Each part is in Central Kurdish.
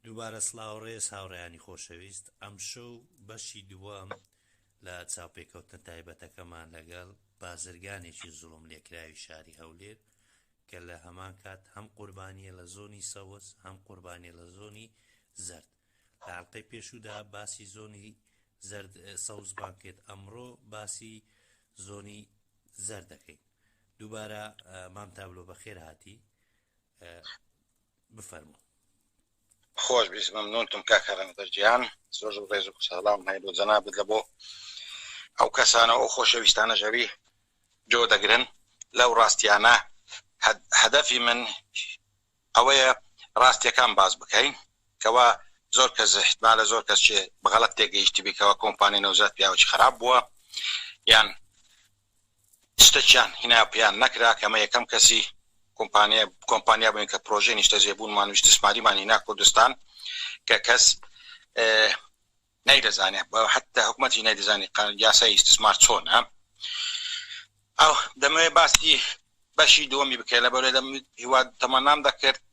دووبارە سڵاو ڕێز هاوڕێیانی خۆشەویست ئەمشەو بەشی دووەم لە چاوپێکەوتنە تایبەتەکەمان لەگەڵ بازرگانێکی زوڵم لێکراوی شاری هەولێر کە لە هەمان کات هەم قوربانیە لە زۆنی سەوز هەم قوربانیە لە زۆنی زەرد لە ئەڵلقەی پێشودا باسی زۆنی زەرد سەوز بانکێت ئەمڕۆ باسی زۆنی زەر دەکەین دووبارە مام تابلۆ بەخێر هاتی بفەرموو. خۆش بیست مەمنونتم کاک هەرەنگدەر جیان زۆر زۆر ڕێز و ساڵاوم هەیە بۆ جەنابت لە بۆ ئەو کەسانە و خۆشەویستانەش ئەوی جۆ دەگرن لەو ڕاستیانە هەدەفی من ئەوەیە ڕاستیەکان باس بکەین کەوا زۆر کەس احتمالە زۆر کەس چێ بەغەڵەت تێگەیشتبی کەوا کۆمپانی نەوزاد پیاوەکی خراپ بووە یان شتەکیان هینا پێیان نەکرا کە ئمە یەکەم کەسی کۆمپانیا کۆمپانیا بووین کە پرۆژەی نیشتەجێ بوونمان و ئیستسماریمان هینا کوردستان کە کەس نەیدەزانێ بە حتا حکومەتی نەیدەزانی یاسای ئیستسمار چۆنە ئەو دەمەوێ باسی بەشی دووەمی بکەێت لە بەرێ دەم هیوا تەمەنام دەکرد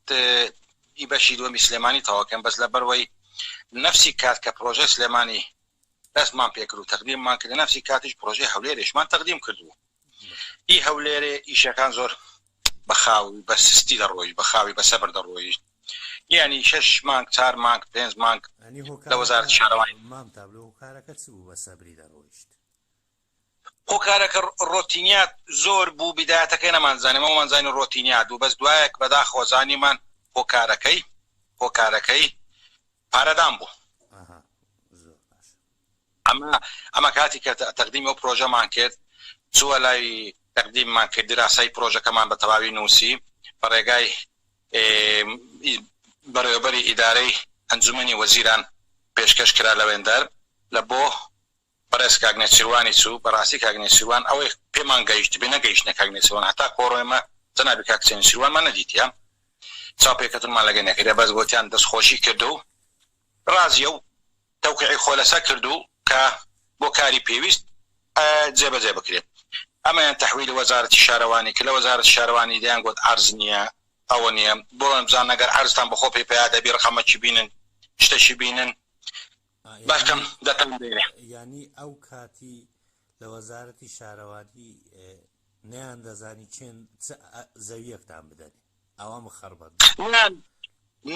ئی بەشی دووەمی سلێمانی تەواکەم بەس لە بەروەی نفسی کات کە پرۆژە سلێمانی دەستمان پێکرد و تەقدیممان کرد لەنەفسی کاتیش پرۆژەی هەولێرێشمان تەقدیم کردبوو ئی هەولێرێ ئیشەکان زۆر بەخاو بە سستی دەڕۆیشت بەخاوی بە سەبر دەڕۆیشت یانی شەش مانگ چار مانگ پێنج مانگ لە وەزارەتی شارەوانی. مام تابلۆ هۆکارەکە چ بوو بە سەبری دەڕۆیشت؟ هۆکارەکە ڕۆتینیا زۆر بوو بیدایەتەکەی نەمانزانی ئەوەمان زانی ڕۆتینیا دوو بەس دوایەک بەداخەوە زانیمان هۆکارەکەی هۆکارەکەی پارەدان بوو ئەمە ئەمە کاتی کە تەقدیمی ئەو پرۆژەمان کرد چووە لای تەقدیممان کرد دراسای پرۆژەکەمان بە تەواوی نووسی بە ڕێگای بەڕێوەبەری ئیدارەی ئەنجومنی وەزیران پێشکەش کرا لەوێندەر لە بۆ بەڕێز کاک نێچیروانی چوو بەڕاستی کاک نێچیروان ئەوەی پێمان گەیشتبێ نەگەیشتە کاک نێچیروان هەتا کۆڕۆنە ئێمە جەنابی کاک حسێن نێچیروانمان نەدیتیە چاوپێکەوتنمان لەگەی نەکردیە بەس گۆتیان دەست خۆشی کردو ڕازیە و تەوقیعی خۆی لەسەر کردو کە بۆ کاری پێویست جێ بەجێ بکرێ ئەمەیان تەحویلی وەزارەتی شارەوانی کرد لە وەزارەتی شارەوانی دەیان گۆت عەرز نیە ئەوە نیە بڕۆن بزانن ئەگەر عەرزتان بەخۆ پێی پەیا دەبی ڕقەمەکی بینن شتەکی بینن بەختم دەتان دەوێ.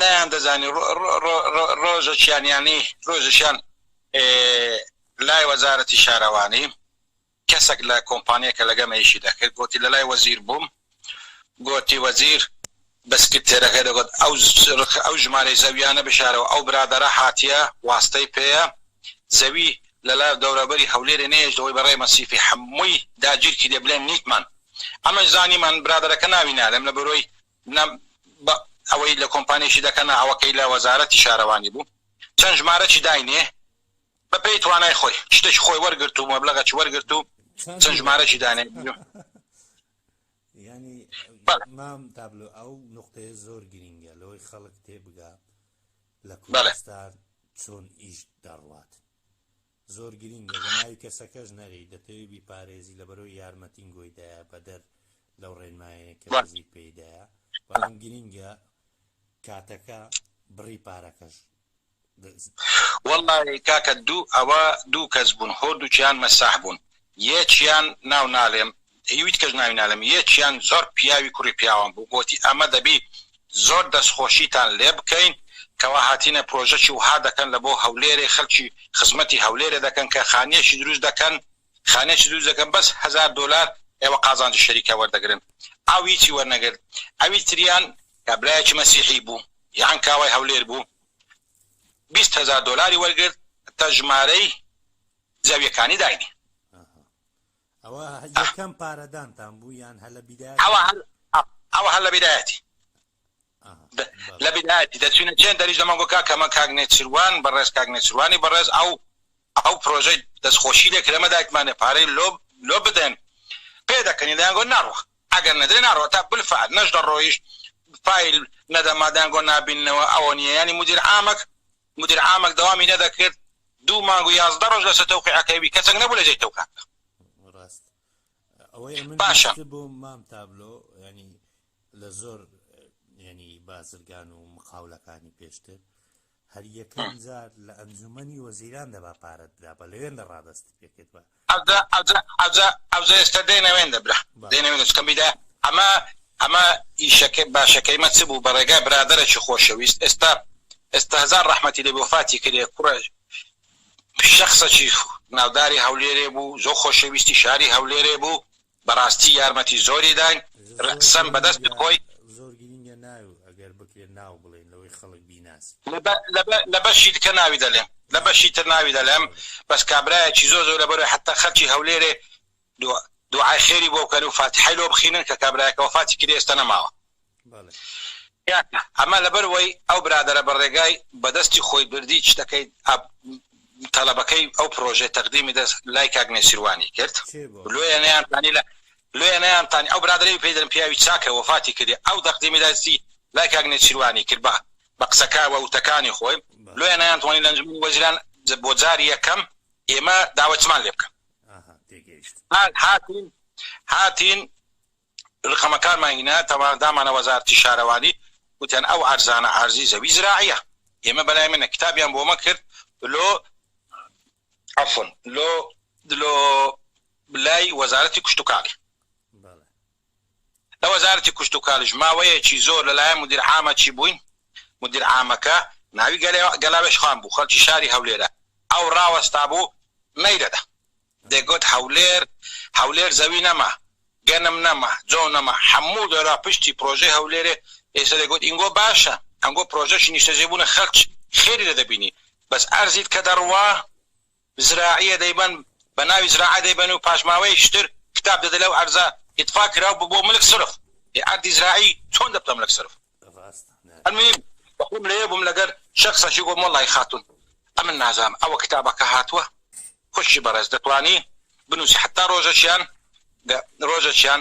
نەیان دەزانی ڕۆژەکیان یانی ڕۆژەکیان لای وەزارەتی شارەوانی کەسەک لە کۆمپانیە کە لەگەم ئیشی دەکرد گۆتی لەلای وەزیر بووم گۆتی وەزیر بە سکرتێرەکەی دەگۆت ئەو ژمارەی زەویانە بشارەوە ئەو برادەرە هاتیە واستەی پێیە زەوی لەلا دەورەبەری هەولێرێ نەیەشتەوەی بە رێ مەسیفی حەمووی داگیر کیدێ بلێن نیتمان ئەمەش زانیمان برادەرەکە ناوی نالێم لە بەرۆی نە بە ئەوەی لە کۆمپانیشی دەکەنا ئەوەکەی لە وەزارەتی شارەوانی بوو چەند ژمارەکی داینێ بە پێی توانای خۆی شتێکی خۆی وەرگرت و مەبلغەکی وەرگرت و چەند ژمارەکی دانێ ینی مام تابلو ئەو نقطەیە زۆر گرینگە لەوەی خەڵک تێبگا لە کوردستان چۆن ئیش دەڕوات زۆر گرینگە لە ناوی کەسەکەش نەری دەتەوێت بیپارێزی لەبەرەوە یارمەتین گۆیدایە بەدەر لەو ڕێنمایە کە نزیک پێدایە بەڵام گرینگە کاتەکە بڕی پارەکەش وەڵا کاکە دوو ئەوە دوو کەس بوون هۆردووکیان مەساح بوون یەکیان ناو نالێم هیویت کەش ناوی نالێم یەکیان زۆر پیاوی کوڕی پیاوان بوو گۆتی ئەمە دەبی زۆر دەستخۆشیتان لێ بکەین کەوا هاتینە پرۆژەکی وها دەکەن لە بۆ هەولێرێ خەلکی خزمەتی هەولێرێ دەکەن کە خانیەکی دروست دەکەن خانەیەکی دروست دەکەن بەس هەزار دۆلار ئێوە قازانجی شەریکە وەردەگرن ئەو هیچی وەرنەگرت ئەوی تریان کە برایەکی مەسیحی بوو لە عەنکاوای هەولێر بوو بیست هەزار دۆلاری وەرگرت تا ژمارەی زەویەکانی داینی ئەوە یەکەم پارەدانتان بوو یان هەلە بیدایەتی ئەوە هەر لە بیدایەتی لە بیرایەتی دەچوینە چێن دەریش لە مەنگۆ کاک کەمە کاک نێچیروان بەڕێز کاک نێچیروانی بەڕێز ئەو ئەو پرۆژەی دەستخۆشی لێ کرد ئێمە دایکمانێ پارەی لۆ لۆ بدەن پێ دەکەنی دەیان گۆ ناڕوا ئەگەر نەدرێ ناڕوا تا بالفعل نەش دەڕۆیشت فایل نەدەما دەیان گۆ نابیننەوە ئەوە نییە یانی مدیر عامەک مدیر عامەک دەوامی نەدەکرد دوو مانگ و یازدە ڕۆژ لەسەر تەوقیعەکەی بی کەسێک نەبوو لە جێی تەوقیعەکە ڕاست ئەوەی من باشە بۆ مام تابلۆ ینی لە زۆر یەنی بازرگان و مقاولەکانی پێشتر هەر یەکەم جار لە ئەنجومەنی وەزیران دەبا پارە درا بە لەوێن لە ڕادست پێکرد بە ئەوزە ئێستا دێنەوێن دەبرا دێنەوێن چکەمیدا ئەمە ئەمە ئیشەکە باشەکەی مە چ بوو بە ڕێگای برادرەی خۆشەویست ئێستا ئێستا هزار ڕحمەتی لە بۆفاتی کرێ کوڕە شخصەکی ناوداری هەولێرێ بوو زۆ خۆشەویستی شاری هەولێرێ بوو بەراستی یارمەتی زۆری داین رقسەم بەدەستت خۆی. زۆر گرینگە ناوی ئەگەر بکرێت ناو بڵێین لەوەی خەڵک بیناسی. لە بەشی دکە ناوی دەلێم. لە بەشی تر ناوی دەلێم بەس کابرایەکی زۆر زۆر لەبەرۆی حەتە خەلکی هەولێرێ دوعای خێری بۆ بکەن و فاتیحای لۆ بخینن کە کابرایەکە وەفاتی کردی ئێستا نەماوە. ئەمە لەبەر وەی ئەو برادەرە بە ڕێگای بە دەستی خۆی بردی شتەکەی ئەپ تەڵەبەکەی ئەو پرۆژەی تەقدیمی دەست لای کاک نێچیروانی کرد لۆیە نیان تانی لە لۆیە نیان تانی ئەو برادەرەی پێی دەرم پیاوی چاکە وەفاتی کردی ئەو دەقدیمی دەستی لای کاک نێچیروانی کرد بە بە قسەکە وە وتەکانی خۆی لۆیە نیان توانی لەنج وەزیران بۆ جاری یەکەم ئێمە داوەتمان لێ بکەن هاتین هاتین رقەمەکانمان هینا تەوان دامانە وەزارەتی شارەوانی وتیان ئەو عەرزانە عەرزی زەوی زراعیە ئێمە بەلای منە کتابیان بۆمە کرد لۆ عەفون لۆ لۆ لای وەزارەتی کوشتوکاڵی لە وەزارەتی کوشتوکالیش ماوەیەکی زۆر لەلایەن مدیر عامە چی بووین مدیر عامەکە ناوی گەلاوێش خان بوو خەڵکی شاری هەولێرە ئەو ڕاوەستا بوو نەیدەدا دەیگوت هەولێر هەولێر زەوی نەما گەنم نەما جۆ نەما حەموو دەرا پشتی پرۆژەی هەولێرێ ئێستا دەیگوت ئینگۆ باشە ئەنگۆ پرۆژەشی نیشتەجێبوونە خەلک خێری لێ دەبینی بەس ئەرزیت کە دەڕوا زراعیە دەیبەن بە ناوی زراعە دەیبەن و پاشماوەی شتر کتاب دەدە لەو ئەرزە ئیتفاق کراو ببووە ملک سرف ئێ ئەردی زراعی چۆن دەبتە ملک سرف ئەلموهیم بەخۆم لەوێ بووم لەگەر شەخسەکی گۆم وەڵای خاتوون ئەمن نازام ئەوە کتابەکە هاتووە خوشکی بەڕێز دەتوانی بنوسی حەتا ڕۆژەکیان ڕۆژەکیان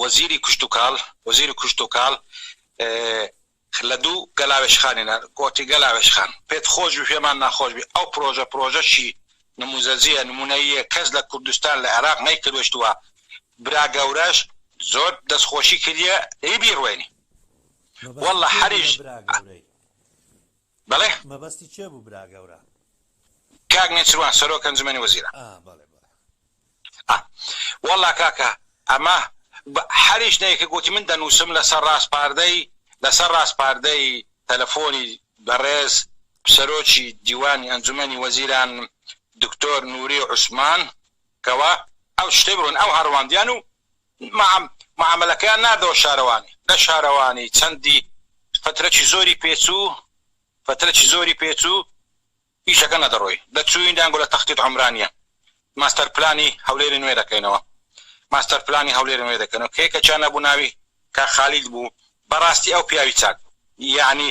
وەزیری کشتوکاڵ وەزیری کشتوکاڵ لە دوو گەلاوێژخانی نە کۆتی گەلاوێژخان پێت خۆش بی پێمان ناخۆش بی ئەو پرۆژە پرۆژەکی نموزەجیە نمونەییە کەس لە کوردستان لە عێراق نەیکردوشتوە برا گەورەش زۆر دەست خۆشی کردیە دەی بیڕوێنی واللە هەریش بەڵێ. مەبەستی کێ بوو برا گەورە؟ کاک نێچروان سەرۆک ئەنجومەنی وەزیران. ئا بەڵێ بەڵێ. ئا وەڵا کاکە ئەمە هەریش نەیە کە گۆتی من دەنووسم لەسەر ڕاسپاردەی لەسەر ڕاسپاردەی تەلەفۆنی بەڕێز سەرۆکی دیوانی ئەنجومەنی وەزیران دکتۆر نوری عوسمان کەوا ئەو شتەی بڕۆن ئەو هەڕواندیان و معامەلەکەیان ناردەوە شارەوانی. لە شارەوانی چەندی فترەکی زۆری پێچوو، فترەکی زۆری پێچوو ئیشەکە نەدەڕۆی. دەچووین دەیانگوت لە تەختیت عومرانییە ماستەر پلانی هەولێری نوێ دەکەینەوە، ماستەر پلانی هەولێری نوێ دەکەینەوە، کە یەکێکیان نەبوو ناوی کاک خالید بوو، بەڕاستی ئەو پیاوی چاک بوو، یەعنی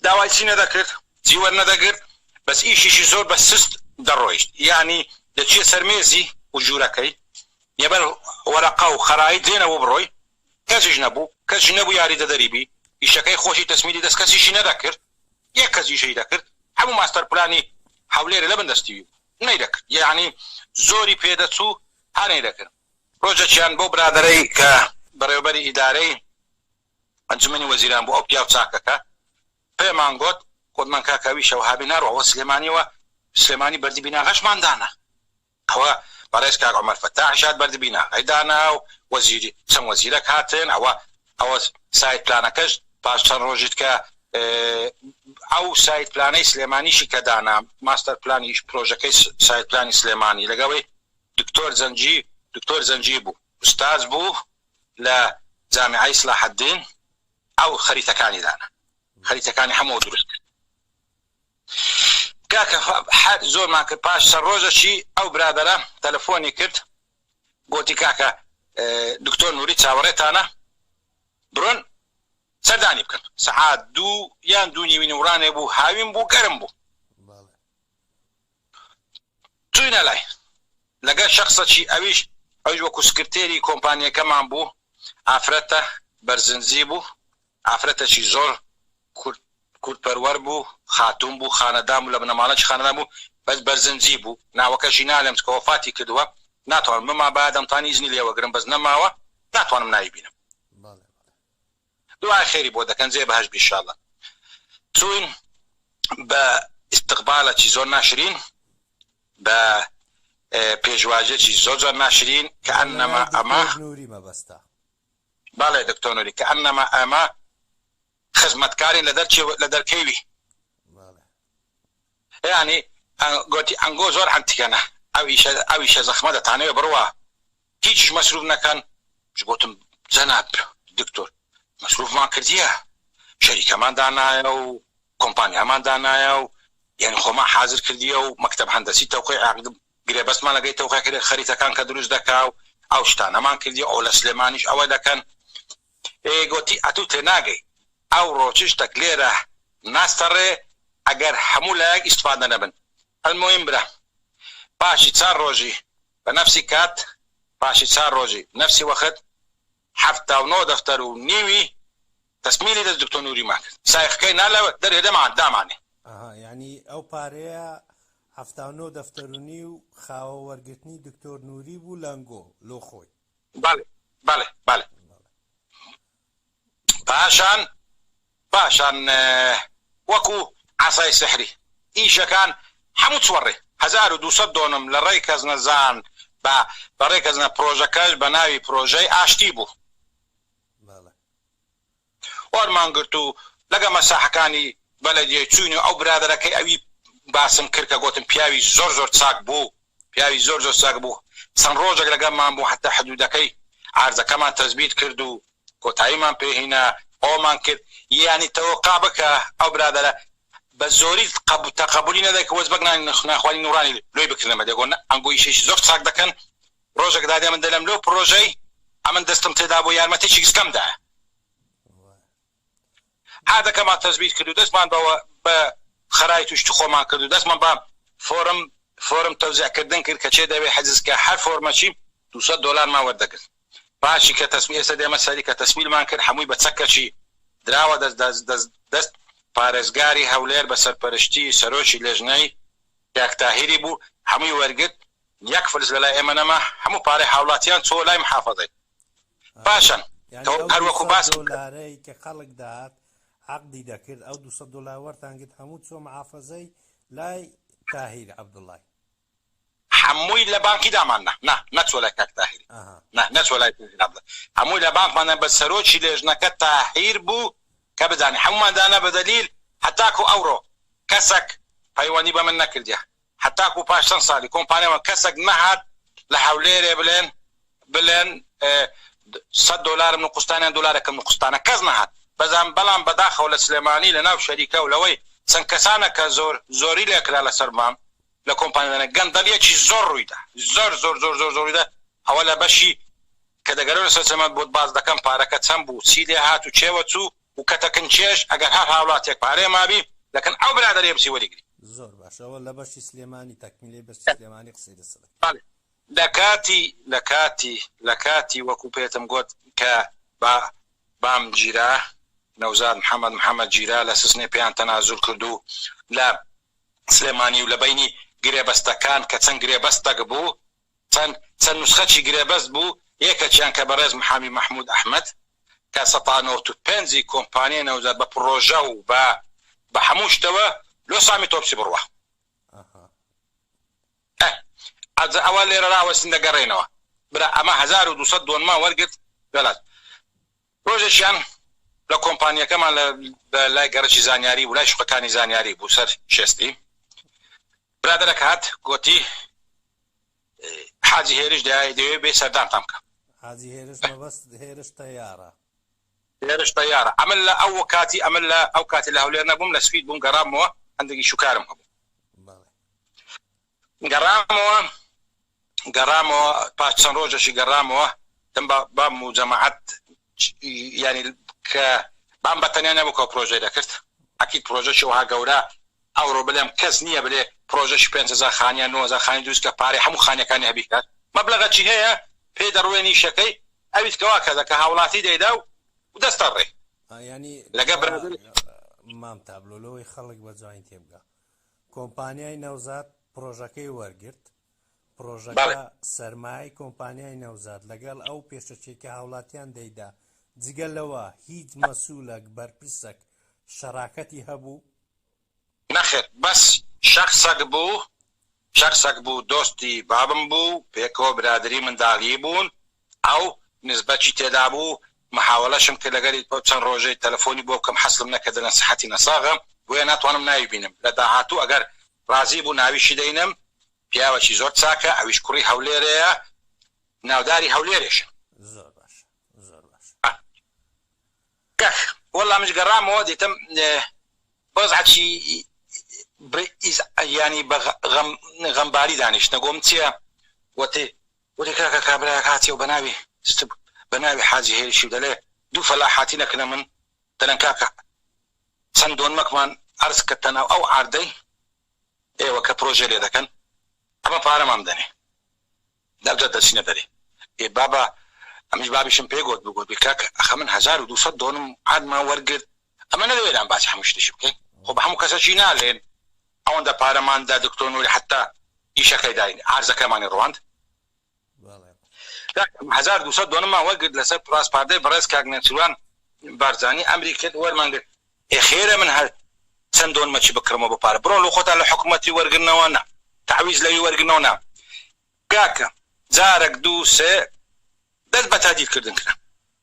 داوای چی نەدەکرد جی وەرنەدەگرت بەس ئیشیشی زۆر بە سست دەڕۆیشت یانی دەچیە سەر مێزی و ژورەکەی یەبەر وەرەقە و خەرایی دێنە وبڕۆی کەسیش نەبو کەسیش نەبو یاری دەدەری بی ئیشەکەی خۆشی تەسمیلی دەست کەسیشی نەدەکرد یەک کەس ئیشەی دەکرد هەمو ماستەر پلانی هەولێرێ لەبن دەستی وی بو نەیدەکرد یانی زۆری پێ دەچو هەر نەیدەکرد ڕۆژەکیان بەو برادەرەی کە بەڕێوەبەری ئیدارەی ئەنجومەنی وەزیران بۆ ئەو پیاو چاکەکە پێمان گۆت گۆتمان کاکە ئەوی شەوهابی ناڕوا وە سلێمانیەوە سلێمانی بەردی بیناغەشمان دانا ئەوە بەڕێز کاک عومەر فەتاحیش هات بەردی بیناغەی دانا و وەزیری چەند وەزیرەک هاتن ئەوە ئەوە سایت پلانەکەش پاش چەند ڕۆژیت کە ئەو سایت پلانەی سلێمانیشی کە دانا ماستەر پلانیش پرۆژەکەی سایت پلانی سلێمانی لەگەڵی دکتۆر زەنجی دکتۆر زەنجی بوو ئوستاز بوو لە جامیعەی سلاحەدین ئەو خەریتەکانی دانە خەریتەکانی هەموو دروست کرد کاکە حەد زۆرمان کرد پاش سەر ڕۆژەشی ئەو برادەرە تەلەفۆنی کرد گۆتی کاکە دکتۆر نوری چاوەڕێتانە برۆن سەردانی بکەن سەعات دوو یان دوو نیوی نورانێ بوو هاوین بوو گەرم بوو چووینە لای، لەگەل شەخسەکی ئەویش ئەویش وەکو سکرتێری کۆمپانیەکەمان بوو، ئافرەتە بەرزنجی بوو، ئافرەتەکی زۆر کورد کورد پەروەر بوو، خاتوون بوو، خانەدان بوو، لە بنەماڵەیەکی خانەدان بوو، بەس بەرزنجی بوو، ناوەکەشی نالێم چکە وەفاتی کردووە، ناتوانم بمابایە دەمتانی ئیزنی لێوەگرم بەس نەماوە، ناتوانم ناوی بینم. دوعای خێری بۆ دەکەن جێ بەهەشت بی شااللە چوین بە استقبالەکی زۆر ناشرین بە پێشواژێکی زۆر جۆر ناشرین کەئەنەما ئەمە بەڵێ دکتۆر نوری کەئەنەما ئەمە خزمەتکارین لە دەرچێ لە دەرکەوی یانی گۆتی ئەنگۆ زۆر ئەنتیکەنە ئەویشە ئەویشە زەخمە دەتانەوێ بڕوا هیچیش مەسروف نەکەن ئیش گۆتم جەناب دکتۆر مەسروفمان کردیە شەریکەمان دانایە و کۆمپانیامان دانایە و یانی خۆمان حازر کردیە و مەکتەب هەندەسی تەوقی عەقد گرێبەستمان لەگەی تەوقی کردە خەریتەکان کە دروست دەکا و ئەو شتانەمان کردیە ئەو لە سلێمانیش ئەوە دەکەن ئێ گۆتی ئەتوو تێناگەی ئەو ڕۆچش تەک لێرە ناستەڕێ ئەگەر هەموو لایەک ئیستفادە نەبن ئەلمۆیم برام پاشی چار ڕۆژی بە نەفسی کات پاشی چار ڕۆژی نەفسی وەخت حەفتا و نۆ دەفتەر و نیوی تەسمیلی دەس دکتۆ نوریمان کرد سایخکەی نا لە دەرێ دەمان دامانێ. ئەها یانی ئەو پارەیە حەفتا و نۆ دەفتەر و نیو خاوە وەرگرتنی دکتۆر نوری بوو لەنگۆ لۆ خۆی. بەڵێ بەڵێ بەڵێ. پاشان پاشان وەکو عەسای سحری ئیشەکان هەموو چوەڕێ هەزار و دوو سەد دۆنم لە ڕێی کەس نەزان بە بە ڕێ کەس نە پرۆژەکەش بە ناوی پرۆژەی ئاشتی بوو وەرمان گرت و لەگە مەساحەکانی بەلەدیەی چوین و ئەو برادەرەکەی ئەوی باسم کرد کە گۆتم پیاوی زۆر زۆر چاک بوو پیاوی زۆر زۆر چاک بوو چەند ڕۆژێک لەگەڵمان بوو حەتا حدودەکەی عەرزەکەمان تەسبیت کرد و کۆتاییمان پێ هینا ئەوەمان کرد یانی تەوقع بکە ئەو برادەرە بە زۆری تەقەبولی نەدەکرد کە وەجبەک ناخوانی نوڕانی لۆی بکردە مەدە گۆ نە ئەنگۆ ئیشێکی زۆر چاک دەکەن ڕۆژێک دادێ من دەلم لۆ پرۆژەی ئەمن دەستم تێدابوو یارمەتێکی گسکەم دایە. عادەکەمان تەزبیت کرد و دەستمان بە بە خەرای توشتی خۆمان کرد و دەستمان بە فۆرم فۆرم تەوزیع کردن کرد کە چێ دەوێ حجز کە هەر فۆرمەچی دوو سەد دۆلارمان وەردەگرت پاشی کە تەسمی ئێستا دێمە سەری کە تەسمیلمان کرد هەمووی بە چەکەچی دراوە دەست دەست دەست دەست پارێزگاری هەولێر بە سەرپەرشتی سەرۆکی لێژنەی کاک تاهیری بوو هەمووی وەرگرت یەک فلس لەلای ئێمە نەما هەموو پارەی هاوڵاتیان چۆ لای محافەزەی باشن تۆ هەر وەکو باست کرد. یانی ئەو دوو سەد دۆلارەی کە خەڵک دەهات عەقدی دەکرد ئەو دوو سەد دۆلار وەرتان گرت هەموو چووە محافەزەی لای تاهیر عەبدوڵای؟ هەمووی لە بانکی دامان نا نا نەچووە لای کاک تاهیر نا نەچووە لای تاهیر عەبدوڵای هەمووی لە بانکمان نا بەس سەرۆکی لێژنەکە تاهیر بوو کە بدانێ هەموومان دانا بە دەلیل هەتاکو ئەوڕۆ کەسەک پەیوەندی بە من نەکردیە هەتاکو پاش چەند سالی کۆمپانیامان کەسەک نەهات لە هەولێرێ بلێن بلێن سەد دۆلارم نقوستانە یان دۆلارەکم نقوستانە کەس نەهات بەزان بەلام بەداخەوە لە سلێمانی لە ناو شەریکە و لەوەی چەند کەسانە کە زۆر زۆری لێ کرا لە سەر مام لە کۆمپانیادانە گەندەلیەکی زۆر رویدا زۆر زۆر زۆر زۆر زۆر رویدا ئەوە لە بەشی کە دەگەرێو لە سەر سلێمان بۆت باس دەکەم پارەکە چەند بوو چی لێ هات و کێوە چوو و کە دەکن کێش ئەگەر هەر هاوڵاتیەک پارەی مابی دەکن ئەو برادەرەی بچی وەری گری. زۆر باش ئەوە لە بەشی سلێمانی تەکمیلەی بەشی سلێمانی قسەی لەسە بکە. بەڵێ لەکاتی لەکاتی لەکاتی وەکو پێتم گۆت کە با بام گیرا نەوزاد محمد محمد گیرا لە سسنێ پێیان تەنازول کردو لە سلێمانی و لە بەینی گرێبەستەکان کە چەند گرێبەستەک بوو چەند چەند نوسخەچی گرێبەست بوو، یەکەکیان کە بەڕێز محامی مەحمود ئەحمەد کە سەد تا نەوەت و پێنج ی کۆمپانیای نەوزاد بە پڕۆژە و بە بە هەموو شتەوە لۆ سامی تۆپچی بڕوا. ئە ئەجە ئەوە لێرە راوەستین دەگەڕێینەوە برا ئەمە هەزار و دوو سەد دۆنمان وەرگرت لە لاس. ڕۆژێکیان لە کۆمپانییەکەمان لە لای گەڕەکی زانیاری بوو لای شوقەکانی زانیاری بوو سەر شێستی برادەرەک هات گۆتی حاجی هێرش دای دەوێ بێ سەردانتان بکە حاجی هێرش مەبەست هێرش تەیارە هێرش تەیارە ئەمن لە ئەو کاتی ئەمن لە ئەو کاتی لە هەولێر نەبووم لە سپید بووم گەڕامەوە هەندێکی شوکارم هەبوو گەڕامەوە گەڕامەوە پاش چەند ڕۆژەشی گەڕامەوە دەم بام و جەماعەت یانی کە بام بە تەنیا نەبوو کە پرۆژەی دەکرد ئەکیید پرۆژەشی وها گەورە ئەوڕۆ بلێم کەس نییە بلێ پرۆژەش 500 خانیان 9000 خانی دروست کە پارەی هەموو خانەکانی هەبیکات مەبلغە چی هەیە پێی دەڕوێنی شەکەی ئەویت کەوا کەزە کە هاوڵاتی دەیدا و دەستە ڕێ ئا یانی لەگە کەوا برادر مام تابلۆ لەوەی خەڵک بە جوانی تێبگا کۆمپانیای نەوزاد پڕۆژەکەی وەرگرت، پڕۆژەکە بەڵێ. سەرمایەی کۆمپانیای نەوزاد لەگەڵ ئەو پێشەکیەی کە هاوڵاتیان دەیدا، جگە لەوە هیچ مەسولەک، بەرپرسەک شەراکەتی هەبوو؟ نەخێر بەس شەخسەک بوو، شەخسەک بوو دۆستی بابم بوو، پێکەوە برادەری منداڵیی بوون، ئەو نسبەچی تێدابوو محاولەشم کرد لەگەلی بۆ چەند ڕۆژەی تەلەفۆنی بۆ بکەم حەسلم نەکردە نەسیحەتی نەساغم بۆیە ناتوانم ناوی بینم لە داهاتوو ئەگەر ڕازی بوو ناویشی دەینم پیاوەکی زۆر چاکە ئەویش کوڕی هەولێرێە ناوداری هەولێرێشە. زۆر باشە زۆر باشە. کاک وەللە منیش گەڕامەوە دیتم بەزعکی بئیز یانی بە غەم غەمباری دانیشتە گۆم چیە وەتی وتی کاکە کابرایەک هاتیە و بەناوی ست بەناوی حاجی هێرشی و دەلێ دوو فەلاح هاتینە کنە من دەلێن کاکە چەند دۆنمەکمان عەرز کەتە ناو ئەو عاردەی ئێوە کە پرۆژەی لێ دەکەن ئەمە پارەمان بدەنێ دەبجە دەچینە دەرێ ئێ بابە ئەمیش بابیشم پێ گۆت بگۆت بی کاکە ئەخە من هەزار و دوو سەد دۆنم عادمان وەرگرت ئەمە نەبێ ئێران باسی هەموو شتێکی بکەین خۆ بە هەموو کەسەکی نالێن ئەوەندە پارەمان دا دکتۆر نوری حەتا ئیشەکەی داین عەرزەکەمانی ڕواند هەزار دوو سەد دۆنممان وەرگرت لەسەر پراسپاردەی بەڕێز کاک نێچیروان بارزانی ئەمری کرد وەرمان گرت ئێ خێرە من هەر چەند دۆنمەکی بکڕمەوە بە پارە بڕۆن لە خۆتان لە حکوومەتی وەرگرنەوە نا تعویز لەوی وەرگرنەوە نا کاکە جارەک دوو سێ دەست بە تادیل کردن کرا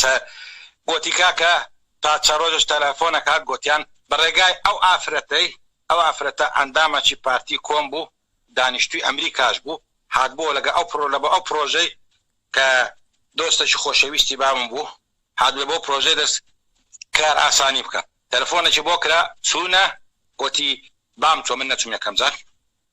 سە گۆتی کاکە پارچە ڕۆژێش تەلەفۆنەک هات گۆتیان بە ڕێگای ئەو ئافرەتەی ئەو ئافرەتە ئەندامەچی پارتی کۆم بوو دانیشتوی ئەمریکاش بوو هاتبۆوە لەگە ئەو پڕۆ لەبە ئەو پڕۆژەی کە دۆستەکی خۆشەویستی بابم بوو هات لەبەو پڕۆژەی دەس کار ئاسانی بکە تەلەفۆنەکی بۆ کرا چوونە گۆتی بام چۆ من نەچوم یەکەم جار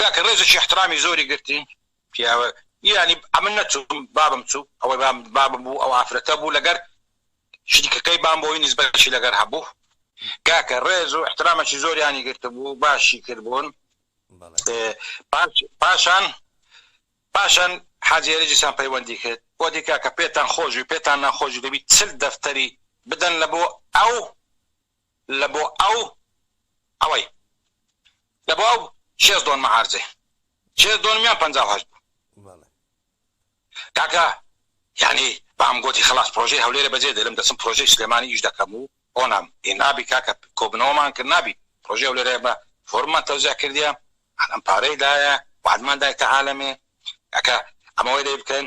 کاکە ڕێزێکی احترامی زۆری گرتی پیاوە یانی ئەمن نەچوم بابم چوو ئەوەی بام بابم بوو ئەو ئافرەتە بوو لەگەر شریکەکەی بام بۆی نسبەتشی لەگەر هەبوو کاکە ڕێز و احترامەکی زۆریانی گرتبوو باشی کردبوون پاشان پاشان حاجێرەجیسان پەیوەندی کرد بۆ دیکە کە پێتان خۆشوی پێتان ناخۆشی دەبیت چل دەفتەری بدەن لە بۆ ئەو لە بۆ ئەو ئەوەی لە بۆ ئەو شێست دۆنمە عارزەی شێست دۆنمیان پەنجا و هەشت بوو بەڵێ کاکە یانی بام گۆتی خەڵاس پرۆژەی هەولێرە بەجێ دێلم دەچم پرۆژەی سلێمانی ئیش دەکەم و ئۆنام ی نابی کاکە کۆبنەوەمان کرد نابی پرۆژەی هەولێرە بە فۆرممان تەوزیع کردیە عالەم پارەی دایە وعدمان دایتە عالەمێ کاکە ئەمە وەی لێ بکەن